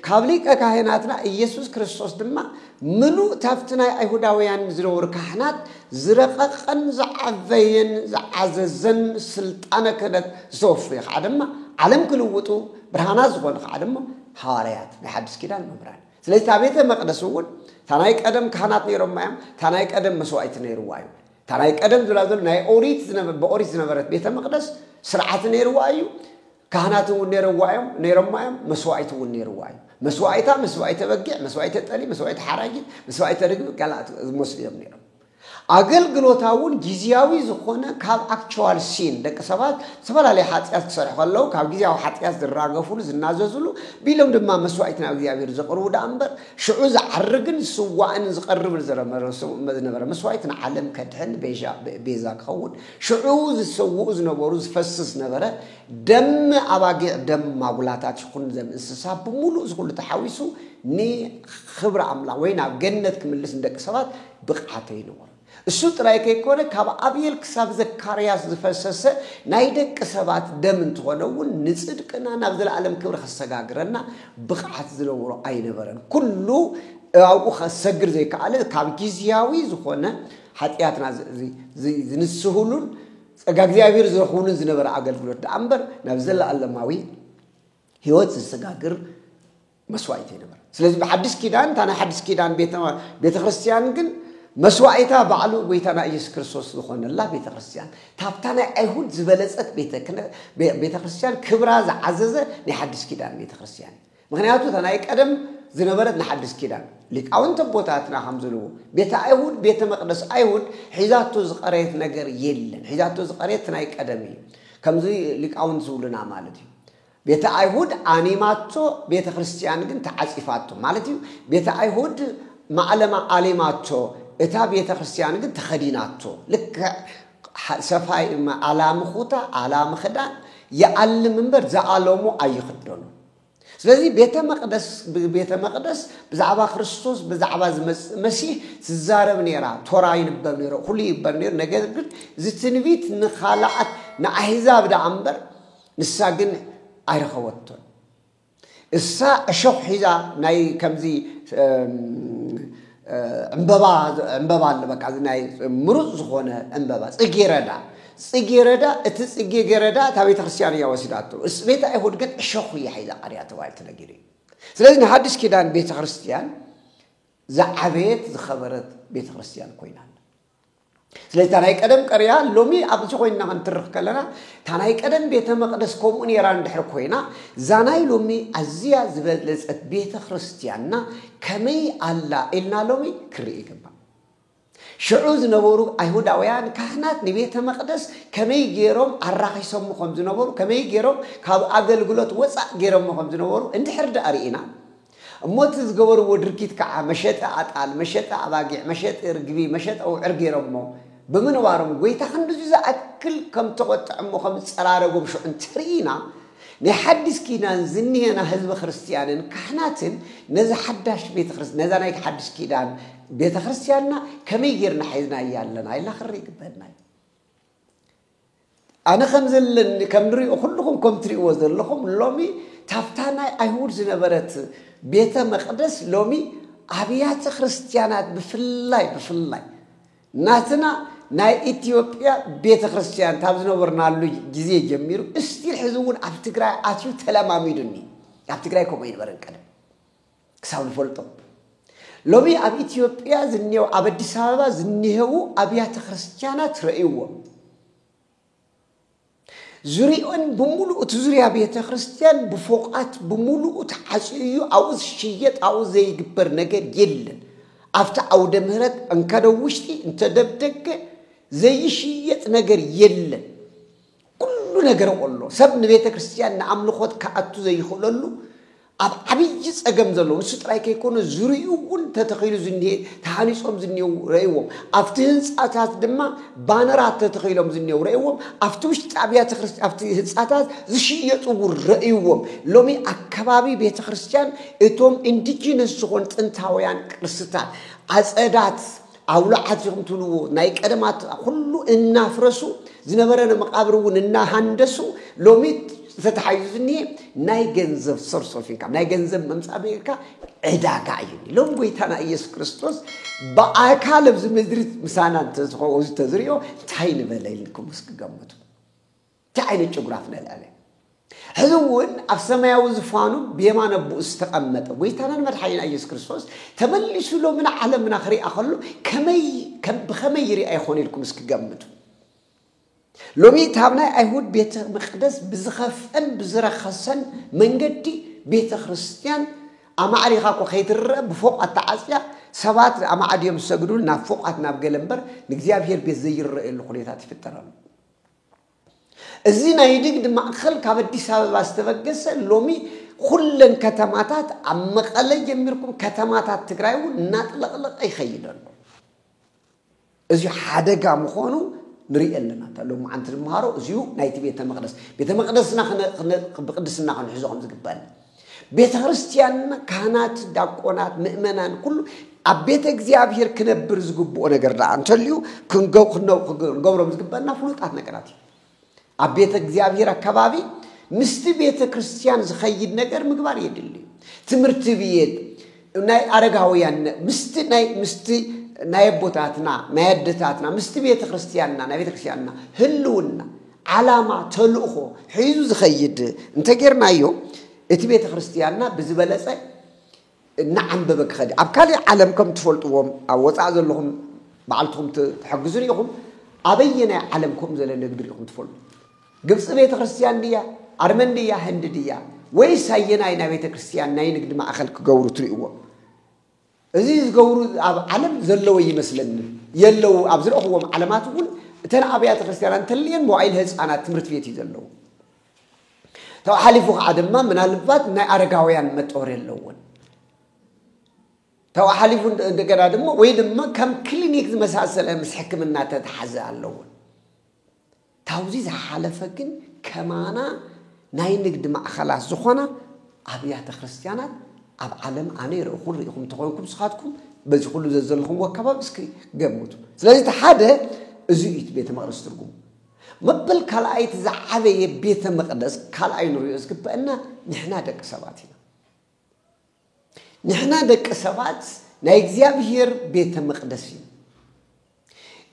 ካብ ሊቀ ካህናትና ኢየሱስ ክርስቶስ ድማ ምሉእ ታብቲ ናይ ኣይሁዳውያን ዝነበሩ ካህናት ዝረቐቐን ዝዓበየን ዝዓዘዘን ስልጣነ ክህነት ዝተወፈዩ ኸዓ ድማ ዓለም ክልውጡ ብርሃናት ዝኾኑ ኸዓ ድማ ሃዋርያት ናይ ሓድስ ኪዳን መምህራን ስለዚ እታ ቤተ መቅደስ እውን እታ ናይ ቀደም ካህናት ነይሮማ እዮም እታ ናይ ቀደም መስዋእቲ ነይርዋ እዩ እታ ናይ ቀደም ዝብላ ዘሎ ናይ ኦሪት ብኦሪት ዝነበረት ቤተ መቅደስ ስርዓት ነይርዋ እዩ ካህናት እውን ነይረዋ እዮም ነይሮማ እዮም መስዋኢት እውን ነይርዋ እዩ መስዋኢታ መስዋኢተ በጊዕ መስዋኢተ ጠሊ መስዋኢተ ሓራጊት መስዋኢተ ርግቢ ካልኣት ዝመስሉ እዮም ነይሮም ኣገልግሎታ እውን ግዜያዊ ዝኾነ ካብ ኣክቸዋል ሲን ደቂ ሰባት ዝተፈላለዩ ሓጢኣት ክሰርሑ ከለዉ ካብ ግዜያዊ ሓጢኣት ዝራገፍሉ ዝናዘዝሉ ቢሎም ድማ መስዋኢት ናብ እግዚኣብሔር ዘቕርቡ ደኣ እምበር ሽዑ ዝዓርግን ዝስዋእን ዝቐርብን ዝነበረ መስዋኢት ንዓለም ከድሕን ቤዛ ክኸውን ሽዑ ዝሰውኡ ዝነበሩ ዝፈስስ ነበረ፣ ደም ኣባጊዕ፣ ደም ማጉላታት ይኹን ዘም እንስሳ ብምሉእ እዚ ኩሉ ተሓዊሱ ንኽብሪ ኣምላኽ ወይ ናብ ገነት ክምልስ ንደቂ ሰባት ብቕዓት ኣይነበሮን። እሱ ጥራይ ከይኮነ ካብ ኣብኤል ክሳብ ዘካርያስ ዝፈሰሰ ናይ ደቂ ሰባት ደም እንተኾነ እውን ንጽድቅና ናብ ዘለኣለም ክብሪ ከሰጋግረና ብቕዓት ዝነበሮ ኣይነበረን። ኩሉ ኣብኡ ከሰግር ዘይከኣለ ካብ ግዝያዊ ዝኾነ ሓጢኣትና ዝንስህሉን ጸጋ እግዚኣብሔር ዝረኽቡሉን ዝነበረ ኣገልግሎት ደኣ እምበር ናብ ዘለኣለማዊ ህይወት ዝሰጋግር መስዋእቲ ይነበረ ስለዚ ብሓድሽ ኪዳን እታ ናይ ሓድሽ ኪዳን ቤተ ክርስትያን ግን መስዋእታ ባዕሉ ጎይታና ኢየሱስ ክርስቶስ ዝኾነላ ቤተ ክርስትያን ታብታ ናይ ኣይሁድ ዝበለጸት ቤተ ክርስትያን ክብራ ዝዓዘዘ ናይ ሓድሽ ኪዳን ቤተ ክርስትያን ምኽንያቱ እታ ናይ ቀደም ዝነበረት ንሓድስ ኪዳን ሊቃውንት ኣቦታትና ከም ዝብልዎ ቤተ ኣይሁድ ቤተ መቅደስ ኣይሁድ ሒዛቶ ዝቀረየት ነገር የለን ሒዛቶ ዝቀረየት እቲ ናይ ቀደም እዩ ከምዚ ሊቃውንት ዝብሉና ማለት እዩ ቤተ ኣይሁድ ኣኒማቶ ቤተ ክርስቲያን ግን ተዓጺፋቶ ማለት እዩ ቤተ ኣይሁድ ማዕለማ ኣሊማቶ እታ ቤተ ክርስቲያን ግን ተኸዲናቶ ልክዕ ሰፋይ ኣላሚ ኩታ ኣላሚ ክዳን ይኣልም እምበር ዝኣለሙ ኣይኽደኑ ስለዚ ቤተ መቅደስ ብቤተ መቅደስ ብዛዕባ ክርስቶስ ብዛዕባ ዝመጽእ መሲህ ትዛረብ ነይራ ቶራ ይንበብ ነይሩ ኩሉ ይግበር ነይሩ ነገር ግን እዚ ትንቢት ንካልኣት ንኣህዛብ ደኣ እምበር ንሳ ግን ኣይረኸበቶን እሳ እሾኽ ሒዛ ናይ ከምዚ ዕምበባ ዕምበባ ኣሎ በቃ እዚ ናይ ምሩፅ ዝኾነ ዕምበባ ጽጌረዳ ጽጌረዳ እቲ ጽጌረዳ እታ ቤተ ክርስቲያን እያ ወሲዳቶ እስ ቤተ ኣይሁድ ግን እሾኹ እያ ሒዛ ቀሪያ ተባሂሉ ተነጊሩ እዩ ስለዚ ንሓድሽ ኪዳን ቤተ ክርስቲያን ዝዓበየት ዝኸበረት ቤተ ክርስቲያን ኮይና ስለዚ እታ ናይ ቀደም ቀርያ ሎሚ ኣብዚ ኮይንና ክንትርኽ ከለና እታ ናይ ቀደም ቤተ መቕደስ ከምኡ ነይራ እንድሕር ኮይና እዛ ናይ ሎሚ ኣዝያ ዝበለጸት ቤተ ክርስቲያንና ከመይ ኣላ ኢልና ሎሚ ክንርኢ ይግባእ። ሽዑ ዝነበሩ ኣይሁዳውያን ካህናት ንቤተ መቕደስ ከመይ ገይሮም ኣራኺሶሞ ከም ዝነበሩ ከመይ ገይሮም ካብ ኣገልግሎት ወፃእ ገይሮሞ ከም ዝነበሩ እንድሕር ደኣ ርኢና እሞ እቲ ዝገበርዎ ድርጊት ከዓ መሸጢ ኣጣል፣ መሸጢ ኣባጊዕ፣ መሸጢ ርግቢ፣ መሸጢ ኣውዕር ገይሮሞ ብምንባሮም ጎይታ ክንድዚ ዝኣክል ከምተቖጥዐሞ ከምዝፀራረጎም ሽዑ እንተርኢና ናይ ሓዲስ ኪዳን ዝኒሀና ህዝበ ክርስቲያንን ካህናትን ነዛ ሓዳሽ ቤተክርስ ነዛ ናይቲ ሓዲስ ኪዳን ቤተክርስትያንና ከመይ ጌርና ሒዝናያ ኣለና ኢልና ክንርኢ ይግበአና እዩ። ኣነ ከምዘለኒ ከም ንሪኦ ኩልኹም ከም ትሪእዎ ዘለኹም ሎሚ ታፍታ ናይ ኣይሁድ ዝነበረት ቤተ መቅደስ ሎሚ ኣብያተ ክርስቲያናት ብፍላይ ብፍላይ ናትና ናይ ኢትዮጵያ ቤተ ክርስቲያን ካብ ዝነበርናሉ ግዜ ጀሚሩ እስቲል ሕዚ እውን ኣብ ትግራይ ኣትዩ ተለማሚዱኒ ኣብ ትግራይ ከምኡ ይነበረን ቀደም ክሳብ ንፈልጦ ሎሚ ኣብ ኢትዮጵያ ዝኔው ኣብ ኣዲስ ኣበባ ዝኔሄዉ ኣብያተ ክርስቲያናት ረእይዎም ዙሪኦን ብምሉኡ እቲ ዙሪያ ቤተ ክርስቲያን ብፎቃት ብምሉኡ ተዓፅዩ እዩ። ኣብኡ ዝሽየጥ ኣብኡ ዘይግበር ነገር የለን። ኣብቲ ዓውደ ምህረት እንከደ ውሽጢ እንተደብደገ ዘይሽየጥ ነገር የለን። ኩሉ ነገር ኸሎ ሰብ ንቤተ ክርስቲያን ንኣምልኾት ክኣቱ ዘይኽእለሉ ኣብ ዓብዪ ጸገም ዘለዉ ንሱ ጥራይ ከይኮነ ዙርኡ እውን ተተኺሉ ዝኒሄ ተሃኒጾም ዝኒሄው ረእዎም ኣብቲ ህንጻታት ድማ ባነራት ተተኺሎም ዝኒሄው ረእዎም ኣብቲ ውሽጢ ኣብያተ ክርስቲ ኣብቲ ህንጻታት ዝሽየጡ እውን ረእዎም ሎሚ ኣከባቢ ቤተ ክርስቲያን እቶም ኢንዲጂነስ ዝኾኑ ጥንታውያን ቅርስታት ዓጸዳት ኣውሎ ዓጺኹም ትብልዎ ናይ ቀደማት ኩሉ እናፍረሱ ዝነበረ ንመቓብር እውን እናሃንደሱ ሎሚ ዝተተሓይዙ ዝኒሄ ናይ ገንዘብ ሶርስ ኦፍ ኢንካም ናይ ገንዘብ መምፃእ ብኢልካ ዕዳጋ እዩ ሎም ጎይታና ኢየሱስ ክርስቶስ ብኣካል ኣብዚ ምድሪ ምሳና እንተዝኸው ተዝሪኦ እንታይ ንበለ ኢልኩም እስኪ ገምቱ እንታይ ዓይነት ጭጉራፍ ነልዕል? ሕዚ እውን ኣብ ሰማያዊ ዝፋኑ ብየማን ኣቦኡ ዝተቐመጠ ጎይታናን መድሓኒና ኢየሱስ ክርስቶስ ተመሊሱ ሎሚ ንዓለምና ክሪኣ ከሎ ከመይ ብኸመይ ይሪኣ ይኾን ኢልኩም እስኪ ገምቱ። ሎሚ ካብ ናይ ኣይሁድ ቤተ መቅደስ ብዝኸፍአን ብዝረኸሰን መንገዲ ቤተ ክርስቲያን ኣማዕሪኻ እኮ ከይትረአ ብፎቋት ተዓፅያ ሰባት ኣማዕድዮም ዝሰግዱን ናብ ፎቋት ናብ ገለ እምበር ንእግዚኣብሔር ቤት ዘይረአየሉ ኩነታት ይፍጠር ኣሎ። እዚ ናይ ንግድ ማእኸል ካብ ኣዲስ ኣበባ ዝተበገሰ ሎሚ ኹለን ከተማታት ኣብ መቐለ ጀሚርኩም ከተማታት ትግራይ እውን እናጥለቕለቐ ይኸይድ ኣሎ። እዚ ሓደጋ ምዃኑ ንርኢ ኣለና እታ ሎም መዓንቲ ንመሃሮ እዚኡ ናይቲ ቤተ መቅደስ ቤተ መቅደስና ብቅድስና ክንሕዞ ከም ዝግባእ ቤተ ክርስቲያንና ካህናት፣ ዳቆናት፣ ምእመናን ኩሉ ኣብ ቤተ እግዚኣብሔር ክነብር ዝግብኦ ነገር ደኣ እንተልዩ ክንገብሮም ዝግበና ፍሉጣት ነገራት እዩ። ኣብ ቤተ እግዚኣብሔር ኣከባቢ ምስቲ ቤተ ክርስቲያን ዝኸይድ ነገር ምግባር የድሊ እዩ። ትምህርቲ ቤት ናይ ኣረጋውያን ምስቲ ናይ ምስቲ ናይ ኣቦታትና ናይ ኣደታትና ምስቲ ቤተ ክርስቲያንና ናይ ቤተ ክርስቲያንና ህልውና ዓላማ፣ ተልእኾ ሒዙ ዝኸይድ እንተጌርናዮ እቲ ቤተ ክርስቲያንና ብዝበለጸ እናዓምበበ ክኸድ እዩ። ኣብ ካልእ ዓለም ከም ትፈልጥዎም ኣብ ወጻኢ ዘለኹም ባዕልትኹም ትሕግዙን ኢኹም ኣበየናይ ዓለም ከምኡ ዘለ ንግዲ ሪኢኹም ትፈልጡ? ግብፂ ቤተ ክርስቲያን ድያ? ኣርመን ድያ? ህንዲ ድያ? ወይስ ኣየናይ ናይ ቤተ ክርስቲያን ናይ ንግዲ ማእኸል ክገብሩ ትርእይዎም? እዚ ዝገብሩ ኣብ ዓለም ዘለወ እይመስለንን። የለዉ ኣብ ዝረእኹዎም ዓለማት እውን እተን ኣብያተ ክርስቲያና እንተልየን መዋኢል ህፃናት ትምህርት ቤት እዩ ዘለዉ። ተው ሓሊፉ ከዓ ድማ ምናልባት ናይ ኣረጋውያን መጠወር የለዎን ተው ሓሊፉ እንደገና ድማ ወይ ድማ ከም ክሊኒክ ዝመሳሰለ ምስ ሕክምና ተተሓዘ ኣለዎን ካብዚ ዝሓለፈ ግን ከማና ናይ ንግድ ማእኸላት ዝኾና ኣብያተ ክርስትያናት ኣብ ዓለም ኣነ ይርኢኹን ርኢኹም ተኾይንኩም ንስኻትኩም በዚ ኩሉ ዘዘለኹምዎ ኣከባቢ እስኪ ገምቱ። ስለዚ እቲ ሓደ እዚ እዩ እቲ ቤተ መቕደስ ትርጉሙ። መበል ካልኣይ እቲ ዝዓበየ ቤተ መቕደስ ካልኣይ ንሪኦ ዝግበእና ንሕና ደቂ ሰባት ኢና። ንሕና ደቂ ሰባት ናይ እግዚኣብሔር ቤተ መቕደስ እዩ።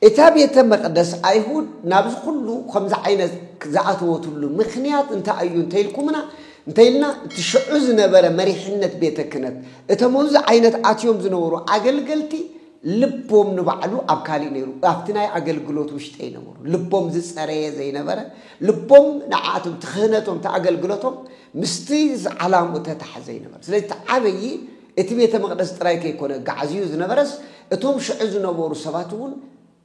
እታ ቤተ መቕደስ ኣይሁድ ናብዚ ኩሉ ከምዚ ዓይነት ዝኣተወትሉ ምክንያት እንታይ እዩ እንተኢልኩምና እንተኢልና እቲ ሽዑ ዝነበረ መሪሕነት ቤተ ክህነት እቶም ኣብዚ ዓይነት ኣትዮም ዝነበሩ ኣገልገልቲ ልቦም ንባዕሉ ኣብ ካሊእ ነይሩ ኣብቲ ናይ ኣገልግሎት ውሽጢ ኣይነበሩ ልቦም ዝፀረየ ዘይነበረ ልቦም ንዓኣቶም እቲ ክህነቶም እቲ ኣገልግሎቶም ምስቲ ዓላምኡ እተታሓዘ ኣይነበረ ስለዚ እቲ ዓበዪ እቲ ቤተ መቅደስ ጥራይ ከይኮነ ጋዕዝዩ ዝነበረስ እቶም ሽዑ ዝነበሩ ሰባት እውን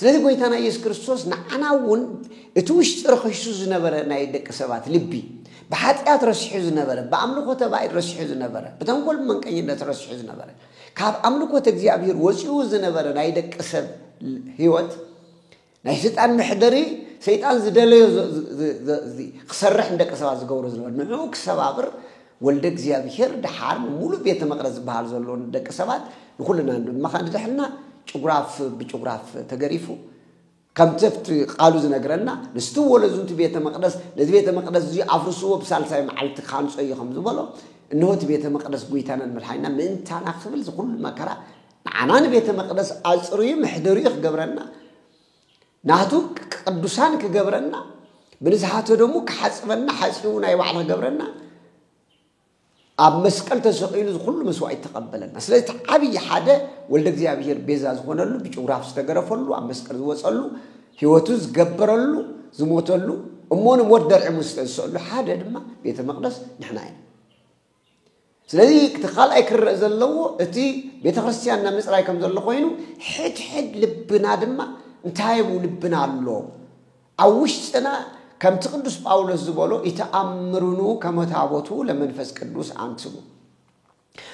ስለዚ ጎይታና ኢየሱስ ክርስቶስ ንዓና እውን እቲ ውሽጢ ረኺሱ ዝነበረ ናይ ደቂ ሰባት ልቢ፣ ብሓጢኣት ረሲሑ ዝነበረ፣ ብኣምልኮተ ባእድ ረሲሑ ዝነበረ፣ ብተንኮል ብመንቀኝነት ረሲሑ ዝነበረ፣ ካብ ኣምልኮተ እግዚኣብሔር ወጺኡ ዝነበረ ናይ ደቂ ሰብ ሕይወት ናይ ሰይጣን መሕደሪ ሰይጣን ዝደለዮ ክሰርሕ ንደቂ ሰባት ዝገብሮ ዝነበረ ንዕኡ ክሰባብር ወልደ እግዚኣብሔር ደሓር ንሙሉእ ቤተ መቅደስ ዝበሃል ዘሎ ንደቂ ሰባት ንኩልና ድማ ከኣ ንድሕልና ጭጉራፍ ብጭጉራፍ ተገሪፉ ከምቲ ኣብቲ ቃሉ ዝነግረና ንስቲ ወለዙ እቲ ቤተ መቅደስ ነዚ ቤተ መቅደስ እዚ ኣፍርስዎ ብሳልሳይ መዓልቲ ካንጾ እዩ ከም ዝበሎ እነሆ እቲ ቤተ መቅደስ ጎይታናን መድሓኒና ምእንታና ክብል ዝኩሉ መከራ ንዓና ንቤተ መቅደስ ኣጽርዩ መሕደሪኡ ክገብረና ናቱ ቅዱሳን ክገብረና ብንዝሓተ ደሙ ክሓፅበና ሓፂቡ ናይ ባዕሉ ክገብረና ኣብ መስቀል ተሰቂሉ ዝኩሉ መስዋእት ተቐበለና ስለዚ እቲ ዓብዪ ሓደ ወልደ እግዚኣብሔር ቤዛ ዝኾነሉ ብጭጉራፍ ዝተገረፈሉ ኣብ መስቀል ዝወፀሉ ህይወቱ ዝገበረሉ ዝሞተሉ እሞ ንሞት ደርዒ ሙስተ ዝሰእሉ ሓደ ድማ ቤተ መቅደስ ንሕና ኢና ስለዚ እቲ ካልኣይ ክረእ ዘለዎ እቲ ቤተ ክርስቲያንና ምፅራይ ከም ዘሎ ኮይኑ ሕድሕድ ልብና ድማ እንታይ ብ ልብና ኣሎ ኣብ ውሽጥና ከምቲ ቅዱስ ጳውሎስ ዝበሎ ይተኣምርኑ ከመታቦቱ ለመንፈስ ቅዱስ ኣንትሙ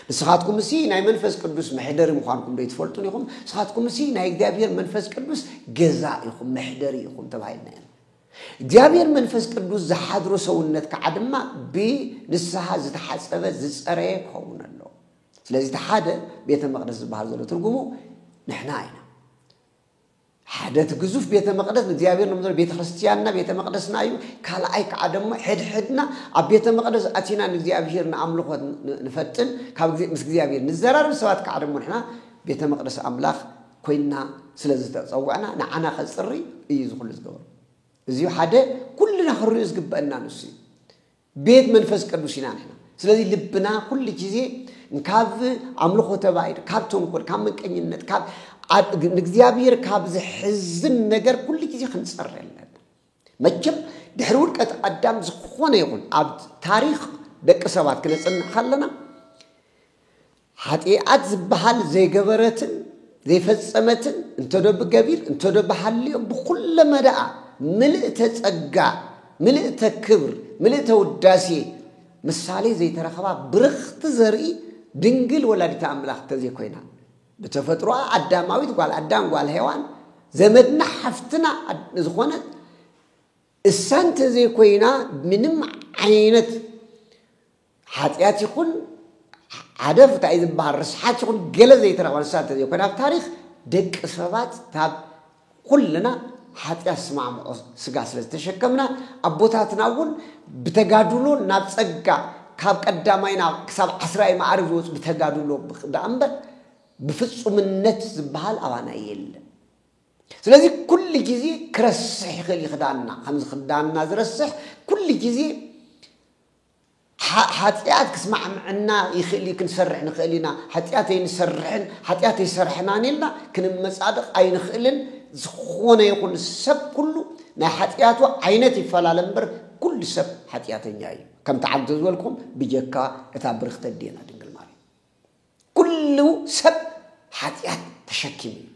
ንስኻትኩም እሲ ናይ መንፈስ ቅዱስ መሕደሪ ምዃንኩም ዶ ይትፈልጡን ኢኹም ንስኻትኩም እሲ ናይ እግዚኣብሔር መንፈስ ቅዱስ ገዛ ኢኹም መሕደሪ ኢኹም ተባሂልና ኢና እግዚኣብሔር መንፈስ ቅዱስ ዝሓድሮ ሰውነት ከዓ ድማ ብንስሓ ዝተሓፀበ ዝፀረየ ክኸውን ኣለዎ። ስለዚ እቲ ሓደ ቤተ መቅደስ ዝበሃል ዘሎ ትርጉሙ ንሕና ኢና። ሓደ እቲ ግዙፍ ቤተ መቅደስ ንእግዚኣብሔር ንብሎ ቤተ ክርስቲያንና ቤተ መቅደስና እዩ። ካልኣይ ከዓ ደሞ ሕድሕድና ኣብ ቤተ መቅደስ ኣቲና ንእግዚኣብሔር ንኣምልኾ ንፈጥን ካብ ምስ እግዚኣብሔር ንዘራርብ ሰባት ከዓ ደሞ ንሕና ቤተ መቅደስ ኣምላኽ ኮይንና ስለ ዝተጸዋዕና ንዓና ከጽሪ እዩ እዚ ኩሉ ዝገበሮ እዚዩ ሓደ ኩልና ክንሪኦ ዝግበአና ንሱ እዩ ቤት መንፈስ ቅዱስ ኢና ንሕና ስለዚ ልብና ኩሉ ግዜ ካብ ኣምልኾ ተባይድ ካብ ተንኮል ካብ መንቀኝነት ካብ ንእግዚኣብሔር ካብ ዝሕዝን ነገር ኩሉ ግዜ ክንጸሪ ኣለና መቸም ድሕሪ ውድቀት ኣዳም ዝኾነ ይኹን ኣብ ታሪኽ ደቂ ሰባት ክነጽንዕ ከለና ሓጢኣት ዝበሃል ዘይገበረትን ዘይፈጸመትን እንተዶ ብገቢር እንተዶ ብሃልዮ ብኩለ መዳኣ ምልእተ ጸጋ ምልእተ ክብር ምልእተ ውዳሴ ምሳሌ ዘይተረኸባ ብርኽቲ ዘርኢ ድንግል ወላዲተ ኣምላኽ እንተዘይኮይና ብተፈጥሮኣ ኣዳማዊት ጓል ኣዳም ጓል ሄዋን ዘመድና ሓፍትና ዝኾነት እሳ እንተዘይኮይና ምንም ዓይነት ሓጢኣት ይኹን ዓደፍ እንታይ ዝበሃል ርስሓት ይኹን ገለ ዘይተረኽበ ንሳ እንተዘይኮይና ኣብ ታሪክ ደቂ ሰባት ካብ ኩልና ሓጢኣት ዝስማዕምዖ ስጋ ስለ ዝተሸከምና ኣቦታትና እውን ብተጋድሎ ናብ ጸጋ ካብ ቀዳማይ ናብ ክሳብ ዓስራይ መዓርግ ዝወጽ ብተጋድሎ ደኣ እምበር ብፍጹምነት ዝበሃል ኣባና የለን። ስለዚ ኩሉ ግዜ ክረስሕ ይኽእል ይኽዳና ከምዚ ክዳና ዝረስሕ ኩሉ ግዜ ሓጥያት ክስማዕምዐና ይኽእል እዩ፣ ክንሰርሕ ንኽእል ኢና፣ ሓጥያት ኣይንሰርሕን፣ ሓጥያት ኣይሰራሕናን ኢልና ክንመጻደቕ ኣይንኽእልን፣ ዝኾነ ይኹን ሰብ ኩሉ ናይ ሓጥያቱ ዓይነት ይፈላለ እምበር ኩሉ ሰብ ሓጥያተኛ እዩ፣ ከምቲ ዓንተ ዝበልኩም ብጀካ እታ ብርኽቲ ኣዴና ድንግል ማርያም ኩሉ ሰብ ሓጥያት ተሸኪሙ እዩ።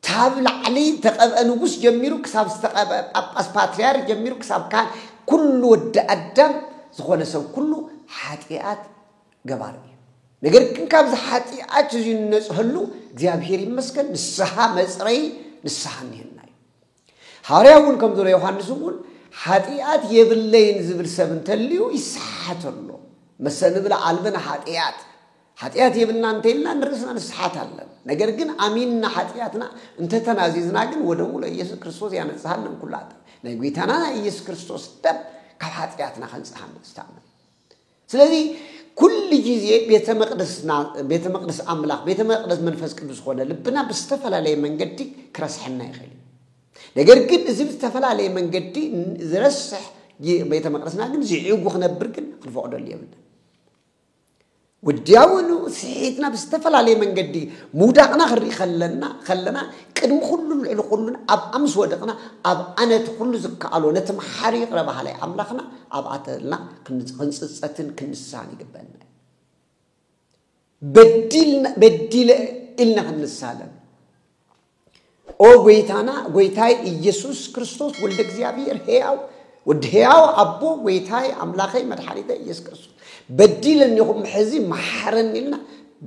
ታብ ላዕሊ ዝተቀብኣ ንጉስ ጀሚሩ ክሳብ ዝተቀብኣ ጳጳስ ፓትርያርክ ጀሚሩ ክሳብ ካህን ኩሉ ወዲ ኣዳም ዝኾነ ሰብ ኩሉ ሓጢኣት ገባሪ እዩ። ነገር ግን ካብዚ ሓጢኣት እዚ ንነጽሀሉ እግዚኣብሔር ይመስገን ንስሓ መጽረይ ንስሓ እኒሀና እዩ። ሃዋርያ እውን ከም ዝበሎ ዮሃንስ እውን ሓጢኣት የብለይን ዝብል ሰብ እንተልዩ ይሰሓሓት ኣሎ መሰንብል ኣልብን ሓጢኣት ሓጥያት የብልና እንተኢልና ንርእስና ንስሓት ኣለን ነገር ግን ኣሚንና ሓጥያትና እንተ ተናዚዝና ግን ወደሙ ለኢየሱስ ክርስቶስ ያነጽሃነ እምኩሉ ሓጥያት ናይ ጎይታና ናይ ኢየሱስ ክርስቶስ ደም ካብ ሓጥያትና ከንጽሃነ ዝተኣመነ ስለዚ ኩሉ ግዜ ቤተ መቅደስና ቤተ መቅደስ ኣምላኽ ቤተ መቅደስ መንፈስ ቅዱስ ዝኾነ ልብና ብዝተፈላለየ መንገዲ ክረስሐና ይኽእል እዩ ነገር ግን እዚ ብዝተፈላለየ መንገዲ ዝረስሕ ቤተ መቅደስና ግን ዝዕጉ ክነብር ግን ክንፈቅደሉ የብልና ወዲያውኑ ስሒትና ብዝተፈላለየ መንገዲ ምውዳቕና ክንርኢ ከለና ከለና ቅድሚ ኩሉን ልዕሊ ኩሉን ኣብኣ ምስ ወደቕና ኣብኣ ነቲ ኩሉ ዝከኣሎ ነቲ መሓሪ ይቕረ በሃላይ ኣምላኽና ኣብኣ ተልና ክንጽጸትን ክንስሓን ይግበአና በዲልና በዲለ ኢልና ክንሳለን ኦ ጎይታና ጎይታይ ኢየሱስ ክርስቶስ ወልደ እግዚኣብሔር ሕያው ወዲ ሕያው ኣቦ ጎይታይ ኣምላኸይ መድሓኒተ ኢየሱስ ክርስቶስ በዲለኒ ኹም ሕዚ መሓረኒ ኢልና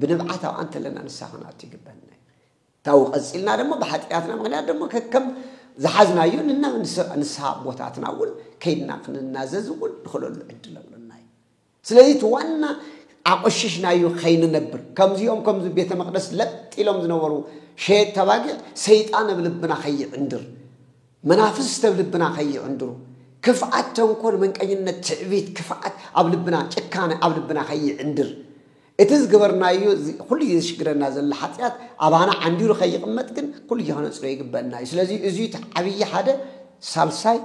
ብንብዓት ኣብኣ እንተለና ንስኻ ክንኣቱ ይግበና እዩ ታው ቀፂልና ደሞ ብሓጢኣትና ምክንያት ደሞ ከከም ዝሓዝናዮ ንና ንስሓ ኣቦታትና እውን ከይድና ክንናዘዝ እውን ንኽእለሉ ዕድል ኣሎና እዩ ስለዚ እቲ ዋና ኣቖሽሽናዮ ከይንነብር ከምዚኦም ከምዚ ቤተ መቕደስ ለጥ ኢሎም ዝነበሩ ሸየጥቲ ኣባጊዕ ሰይጣን ኣብ ልብና ከይዕንድር መናፍስት ኣብ ልብና ከይዕንድሩ ክፍኣት ተንኮል መንቀኝነት ትዕቢት ክፍኣት ኣብ ልብና ጭካነ ኣብ ልብና ከይዕንድር እቲ ዝገበርናዮ ኩሉ ግዜ ዝሽግረና ዘሎ ሓጢኣት ኣባና ዓንዲሩ ከይቕመጥ ግን ኩሉ ግዜ ከነጽሮ ይግበአና እዩ ስለዚ እዚ እቲ ዓብዪ ሓደ ሳልሳይ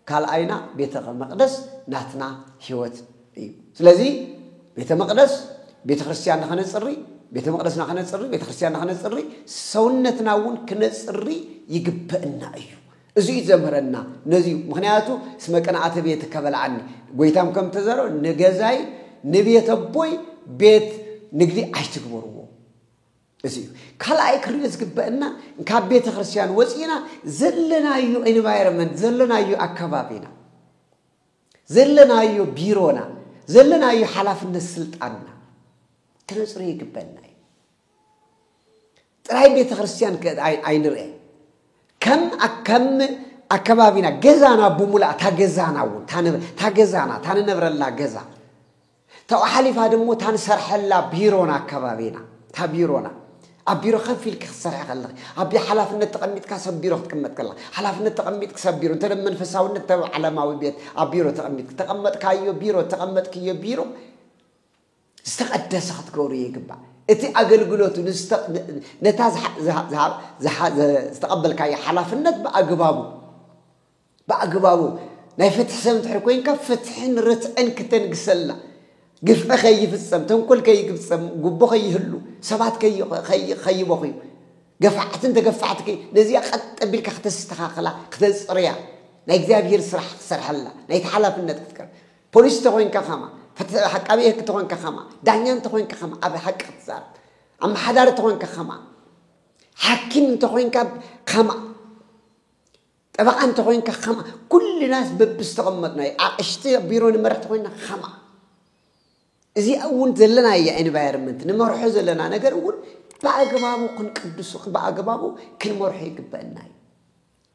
ካልኣይና ቤተ መቅደስ ናትና ሕይወት እዩ። ስለዚ ቤተ መቅደስ ቤተ ክርስቲያን ንኸነጽሪ ቤተ መቅደስና ከነጽሪ ቤተ ክርስቲያንና ከነጽሪ ሰውነትና እውን ክነጽሪ ይግበእና እዩ እዚ እዩ ዘምህረና ነዚ እዩ ምክንያቱ እስመ ቅንኣተ ቤት ከበልዓኒ ጎይታም ከም ተዘሮ ንገዛይ ንቤተ ቦይ ቤት ንግዲ ኣይትግበርዎ እዚ እዩ ካልኣይ ክሪኦ ዝግበእና ካብ ቤተክርስትያን ወፂእና ዘለናዮ ኤንቫይሮመንት ዘለናዮ ኣካባቢና ዘለናዮ ቢሮና ዘለናዮ ሓላፍነት ስልጣንና ክነፅሩ ይግበና እዩ ጥራይ ቤተክርስትያን ኣይንርአ ከም ከም ኣከባቢና ገዛና ብሙላእ ታገዛና እውን ታገዛና ታንነብረላ ገዛ ካብኡ ሓሊፋ ደሞ እታ ንሰርሐላ ቢሮን ኣከባቢና እታ ቢሮና ኣብ ቢሮ ከፍ ኢልኪ ክትሰርሒ ከለኺ ኣብ ሓላፍነት ተቐሚጥካ ሰብ ቢሮ ክትቅመጥ ከለኻ ሓላፍነት ተቐሚጥኪ ሰብ ቢሮ እንተ መንፈሳውነት እንተ ዓለማዊ ቤት ኣብ ቢሮ ተቐሚጥኪ ተቐመጥካዮ ቢሮ እተቐመጥክዮ ቢሮ ዝተቐደሰ ክትገብርዮ ይግባእ እቲ ኣገልግሎቱ ነታ ዝተቐበልካዮ ሓላፍነት ብኣግባቡ ብኣግባቡ ናይ ፍትሒ ሰብ እንድሕር ኮይንካ ፍትሕን ርትዕን ክተንግሰልና፣ ግፍዒ ከይፍጸም፣ ተንኮል ከይግብጸም፣ ጉቦ ከይህሉ፣ ሰባት ከይበኽዩ፣ ገፋዕትን ተገፋዕቲ ከይ ነዚኣ ቀጥ ኣቢልካ ክተስተኻኽላ ክተጽርያ ናይ እግዚኣብሄር ስራሕ ክትሰርሐላ ናይቲ ሓላፍነት ክትቀር ፖሊስ እንተኾይንካ ከማ ፍትሒ ዓቃቢ ሕግ እንተኾይንካ ከማ ዳኛ እንተኾይንካ ከማ ኣብ ሓቂ ክትዛረብ ኣመሓዳሪ እንተኾይንካ ከማ ሓኪም እንተኾይንካ ከማ ጠበቓ እንተ ኾይንካ ከምኣ፣ ኩልናስ በብዝተቐመጥናዮ ኣቕሽቲ ኣብ ቢሮ ንመርሕ እንተ ኾይንና ከምኣ። እዚኣ እውን ዘለናያ ኤንቫይሮመንት ንመርሖ ዘለና ነገር እውን ብኣግባቡ ክንቅድሱ ብኣግባቡ ክንመርሖ ይግበአና እዩ።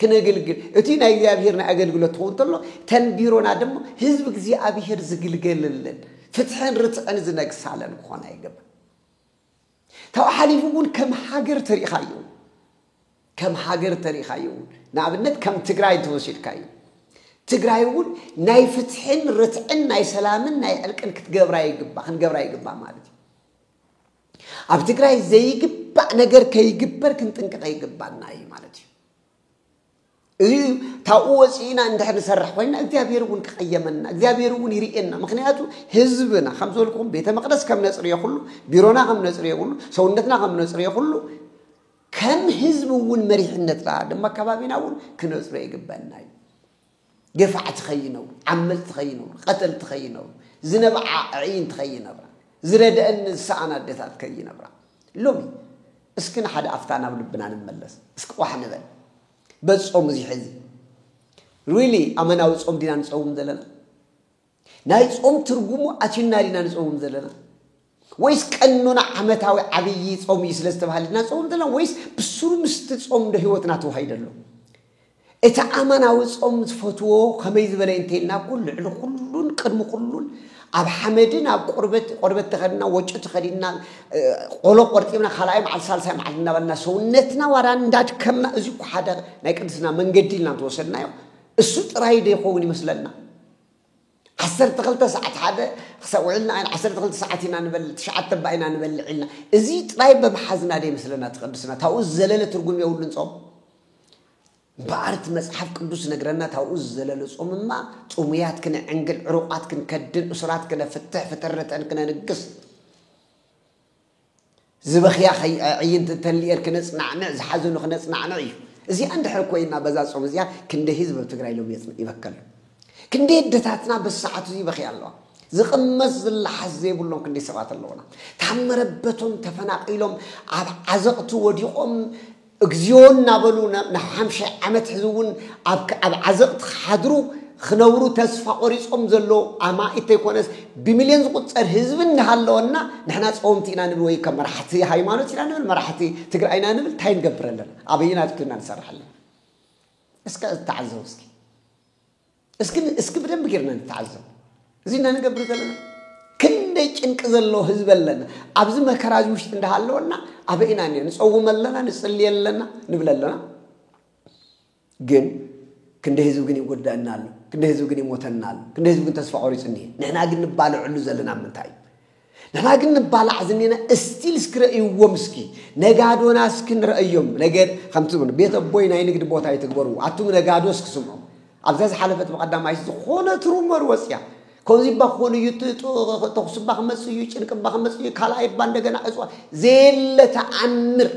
ክነግልግል እቲ ናይ እግዚኣብሔር ናይ ኣገልግሎት ትኸውን ተሎ ተን ቢሮና ድማ ህዝቢ እግዚኣብሔር ዝግልገልልን ፍትሕን ርትዕን ዝነግሳለን ክኾና ይግባእ። ካብኡ ሓሊፉ እውን ከም ሃገር ተሪእኻዮ እውን ከም ሃገር ተሪእኻዮ እውን ንኣብነት ከም ትግራይ እንተወሲድካዮ ትግራይ እውን ናይ ፍትሕን ርትዕን ናይ ሰላምን ናይ ዕርቅን ክትገብራ ይግባ ክንገብራ ይግባ ማለት እዩ ኣብ ትግራይ ዘይግባእ ነገር ከይግበር ክንጥንቅቐ ይግባና እዩ ማለት እዩ እዚ ካብኡ ወፂእና እንድሕር ንሰርሕ ኮይና እግዚኣብሔር እውን ክቐየመና እግዚኣብሔር እውን ይርእየና ምክንያቱ ህዝብና ከም ዝበልኩም ቤተ መቅደስ ከም ነፅርዮ ኩሉ ቢሮና ከም ነፅርዮ ኩሉ ሰውነትና ከም ነፅርዮ ኩሉ ከም ህዝቢ እውን መሪሕነትና ድማ ከባቢና እውን ክነፅሮ ይግበና እዩ ገፋዕቲ ከይነብሩ፣ ዓመጽቲ ከይነብሩ፣ ቀተልቲ ከይነብሩ፣ ዝነብዓ ኣዕይንቲ ከይነብራ፣ ዝረድኣኒ ዝሰኣን ኣደታት ከይነብራ። ሎሚ እስኪ ንሓደ ኣፍታ ናብ ልብና ንመለስ። እስኪ ቋሕ ንበል። በዚ ጾም እዚ ሕዚ ሪሊ ኣመናዊ ጾም ዲና ንጸውም ዘለና? ናይ ጾም ትርጉሙ ኣቲና ዲና ንጸውም ዘለና ወይስ ቀኖና ዓመታዊ ዓብዪ ጾም እዩ ስለ ዝተባህለ ዲና ንጸውም ዘለና ወይስ ብስሩ ምስቲ ጾም ዶ ህይወትና ተዋሂደ ኣሎ? እቲ ኣማናዊ ጾም ዝፈትዎ ከመይ ዝበለ እንተይልና እኮ ልዕሊ ኩሉን ቅድሚ ኩሉን ኣብ ሓመድን ኣብ ቆርበት ቆርበት ተኸድና ወጮ ተኸዲና ቆሎ ቆርጢብና ካልኣይ መዓልቲ ሳልሳይ መዓልቲ እናበልና ሰውነትና ዋላ እንዳድከምና እዚ እኮ ሓደ ናይ ቅድስና መንገዲ ኢልና እንተወሰድናዮ እሱ ጥራይ ዶ ይኸውን ይመስለና ዓሰርተ ክልተ ሰዓት ሓደ ክሳብ ውዒልና ኣይና ዓሰርተ ክልተ ሰዓት ኢና ንበልዕ ትሽዓተ እባ ኢና ንበልዕ ኢልና እዚ ጥራይ ብምሓዝና ደ ይመስለና እቲ ቅድስና ታብኡ ዝዘለለ ትርጉም የብሉን ጾም እምበኣር እቲ መጽሓፍ ቅዱስ ነግረና ታብኡ ዝዘለለ ጾምማ ጽሙያት ክንዕንግል ዕሩቓት ክንከድን እሱራት ክነፍትሕ ፍጥርተን ክነንግስ ዝበኽያ ኣዕይንቲ እንተሊኤር ክነፅናዕንዕ ዝሓዘኑ ክነፅናዕንዕ እዩ እዚኣ እንድሕር ኮይና በዛ ፆም እዚኣ ክንደይ ህዝብ ኣብ ትግራይ ሎም ይበከሉ ክንደይ ኣደታትና በዚ ሰዓት እዚ ይበኽያ ኣለዋ ዝቕመስ ዝለሓስ ዘይብሎም ክንደይ ሰባት ኣለውና ታመረበቶም ተፈናቒሎም ኣብ ዓዘቕቲ ወዲቖም እግዚኦ እናበሉ ንሓምሻይ ዓመት ሕዚ እውን ኣብ ዓዘቕቲ ክሓድሩ ክነብሩ ተስፋ ቆሪፆም ዘለዉ ኣማኢት ተይኮነስ ብሚልዮን ዝቑፀር ህዝቢ እናሃለወና ንሕና ፀወምቲ ኢና ንብል ወይ ከም መራሕቲ ሃይማኖት ኢና ንብል መራሕቲ ትግራይ ኢና ንብል እንታይ ንገብር ኣለና ኣበየናት ኮይና ንሰርሕ ኣለና እስከ ተዓዘቡ እስኪ እስኪ እስኪ ብደንብ ጌርና ንተዓዘብ እዚ እና ንገብር ዘለና ክንደይ ጭንቂ ዘለዎ ህዝቢ ኣለና ኣብዚ መከራ እዚ ውሽጢ እንዳሃለወና ኣበይና እኒ ንፀውም ኣለና ንፅሊ ኣለና ንብል ኣለና ግን ክንደይ ህዝቢ ግን ይጎዳእና ኣሎ ክንደይ ህዝቢ ግን ይሞተና ኣሎ ክንደይ ህዝቢ ግን ተስፋ ቆሪፁ እኒሀ ንሕና ግን ንባልዐሉ ዘለና ምንታይ እዩ ንሕና ግን ንባላዕ ዝኔና እስቲል እስኪ ረእይዎም እስኪ ነጋዶና እስኪ ንረእዮም ነገ ከምቲ ዝብሉ ቤት ኣቦይ ናይ ንግዲ ቦታ ይትግበርዎ ኣቱም ነጋዶ እስኪ ስምዑ ኣብዛ ዝሓለፈት ብቀዳማይ ዝኾነት ሩመር ወፅያ ከምዚ እባ ክኾኑ እዩ ተኹሲ እባ ክመፅ እዩ ጭንቂ እባ ክመፅ እዩ ካልኣይ እባ እንደገና ዕፅዋ ዘየለ ተኣምር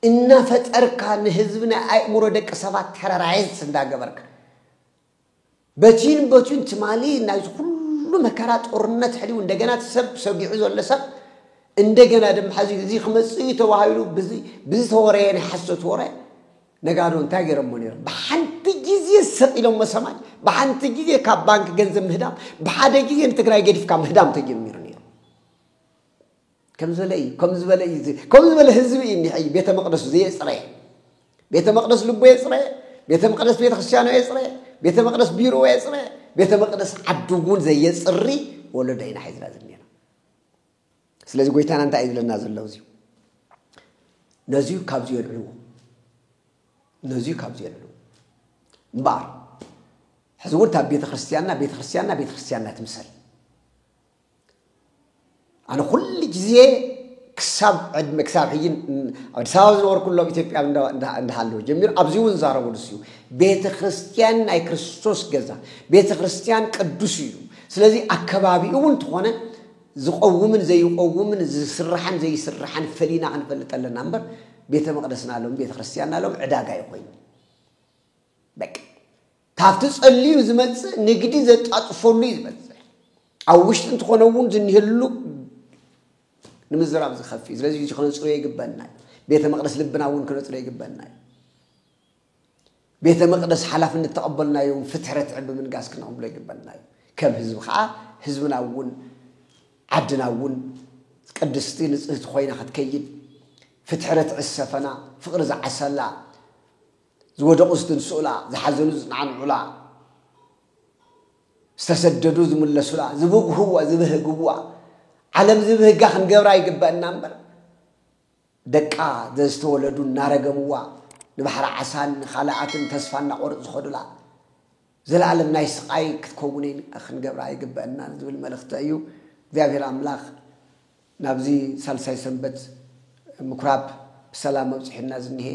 እናፈጠርካ ንህዝቢ ናይ ኣእምሮ ደቂ ሰባት ተረራየስ እንዳገበርካ በቲን በቲን ትማሊ ናይዚ ኩሉ መከራ ጦርነት ሕሊው እንደገና እቲ ሰብ ሰጊዑ ዘሎ ሰብ እንደገና ድማ ሕዚ እዚ ክመጽእ እዩ ተባሂሉ ብዝተወረየ ናይ ሓሶት ወረ ነጋዶ እንታይ ገይሮሞ ነይሮም ብሓንቲ ግዜ ሰቂሎሞ ሰማይ ብሓንቲ ግዜ ካብ ባንክ ገንዘብ ምህዳም ብሓደ ግዜ ንትግራይ ገዲፍካ ምህዳም ተጀሚሩ ነይሩ ከም ዝበለ እዩ ከም ዝበለ እዩ ከም ዝበለ ህዝቢ እዩ እኒሐ እዩ ቤተ መቅደሱ ዘየፅረየ ቤተ መቅደስ ልቦ የፅረየ ቤተ መቅደስ ቤተ ክርስቲያኖ የፅረየ ቤተ መቅደስ ቢሮ የፅረየ ቤተ መቅደስ ዓዱ እውን ዘየፅሪ ወለዶ ኢና ሒዝና ዝኒና ስለዚ ጎይታና እንታይ እዩ ዝብለና ዘሎ እዚዩ ነዚዩ ካብዚ የልዕልዎ ነዚዩ ካብዚ የልዕልዎ እምበኣር ሕዚ እውን እታ ቤተ ክርስቲያንና ቤተ ክርስቲያንና ቤተ ክርስቲያንና ትምሰል ኣነ ኩሉ ግዜ ክሳብ ዕድመ ክሳብ ሕጂ ኣብ ኣዲስ ኣበባ ዝነበርኩሎ ኣብ ኢትዮጵያ እንዳሃለወ ጀሚሩ ኣብዚ እውን ዛረቦ ንሱ እዩ ቤተ ክርስትያን ናይ ክርስቶስ ገዛ ቤተ ክርስትያን ቅዱስ እዩ ስለዚ ኣከባቢኡ እውን እንተኾነ ዝቆውምን ዘይቆውምን ዝስራሕን ዘይስራሕን ፈሊና ክንፈልጥ ኣለና እምበር ቤተ መቅደስና ሎም ቤተ ክርስትያንና ሎም ዕዳጋ ይኮይኑ በቃ ካብቲ ጸልዩ ዝመጽእ ንግዲ ዘጣጥፈሉ እዩ ዝበዝሕ። ኣብ ውሽጢ እንተኾነ እውን ዝኒህሉ ንምዝራብ ዝኸፍ እዩ። ስለዚ ክነጽርዮ ይግበና እዩ። ቤተ መቅደስ ልብና እውን ክነጽርዮ ይግበና እዩ። ቤተ መቅደስ ሓላፍነት ተቐበልናዮ እውን ፍትሒ ረትዕን ብምንጋስ ክነቕብሎ ይግበና እዩ። ከም ህዝቢ ከዓ ህዝብና እውን ዓድና እውን ቅድስቲ ንጽህቲ ኮይና ክትከይድ ፍትሒ ረትዒ ዝሰፈና ፍቕሪ ዝዓሰላ ዝወደቑ ዝትንስኡላ፣ ዝሓዘኑ ዝጸዓንዑላ፣ ዝተሰደዱ ዝምለሱላ፣ ዝብግህዋ ዝብህግዋ፣ ዓለም ዝብህጋ ክንገብራ ይግበእና እምበር፣ ደቃ ዘዝተወለዱ እናረገምዋ፣ ንባሕሪ ዓሳን ንኻልኣትን ተስፋ እናቖርጹ ዝኸዱላ፣ ዘላለም ናይ ስቓይ ክትከውን ክንገብራ ኣይግበእናን ዝብል መልእኽቲ እዩ። እግዚኣብሔር ኣምላኽ ናብዚ ሳልሳይ ሰንበት ምኩራብ ብሰላም ኣብጽሑና ዝኒሀ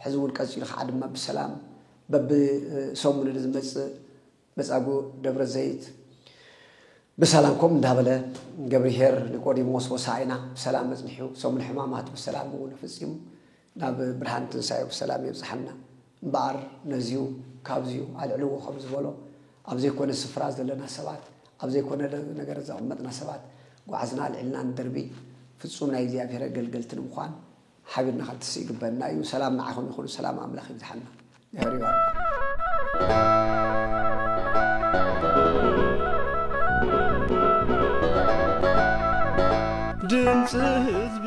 ሕዚ እውን ቀጺሉ ከዓ ድማ ብሰላም በቢ ሰሙን ንዝመጽእ መጻጉእ ደብረ ዘይት ብሰላም ከምኡ እንዳበለ ገብርሄር ኒቆዲሞስ ሆሳዕና ብሰላም ኣጽኒሑ ሰሙን ሕማማት ብሰላም እውን ፈጺሙ ናብ ብርሃን ትንሳኤኡ ብሰላም የብጽሓና። እምበኣር ነዚዩ ካብዚዩ ኣልዕልዎ ከም ዝበሎ ኣብ ዘይኮነ ስፍራ ዘለና ሰባት ኣብ ዘይኮነ ነገር ዘቐመጥና ሰባት ጓዕዝና ኣልዒልና ንድርቢ ፍጹም ናይ እግዚኣብሔር ኣገልገልቲ ንምዃን ሓቢርና ክንትስእ ይግበእና እዩ። ሰላም ንዓኹም ይኹን ሰላም ኣምላኽ ይብዝሓልና። ሜህር ዮሃና። ድምጺ ህዝቢ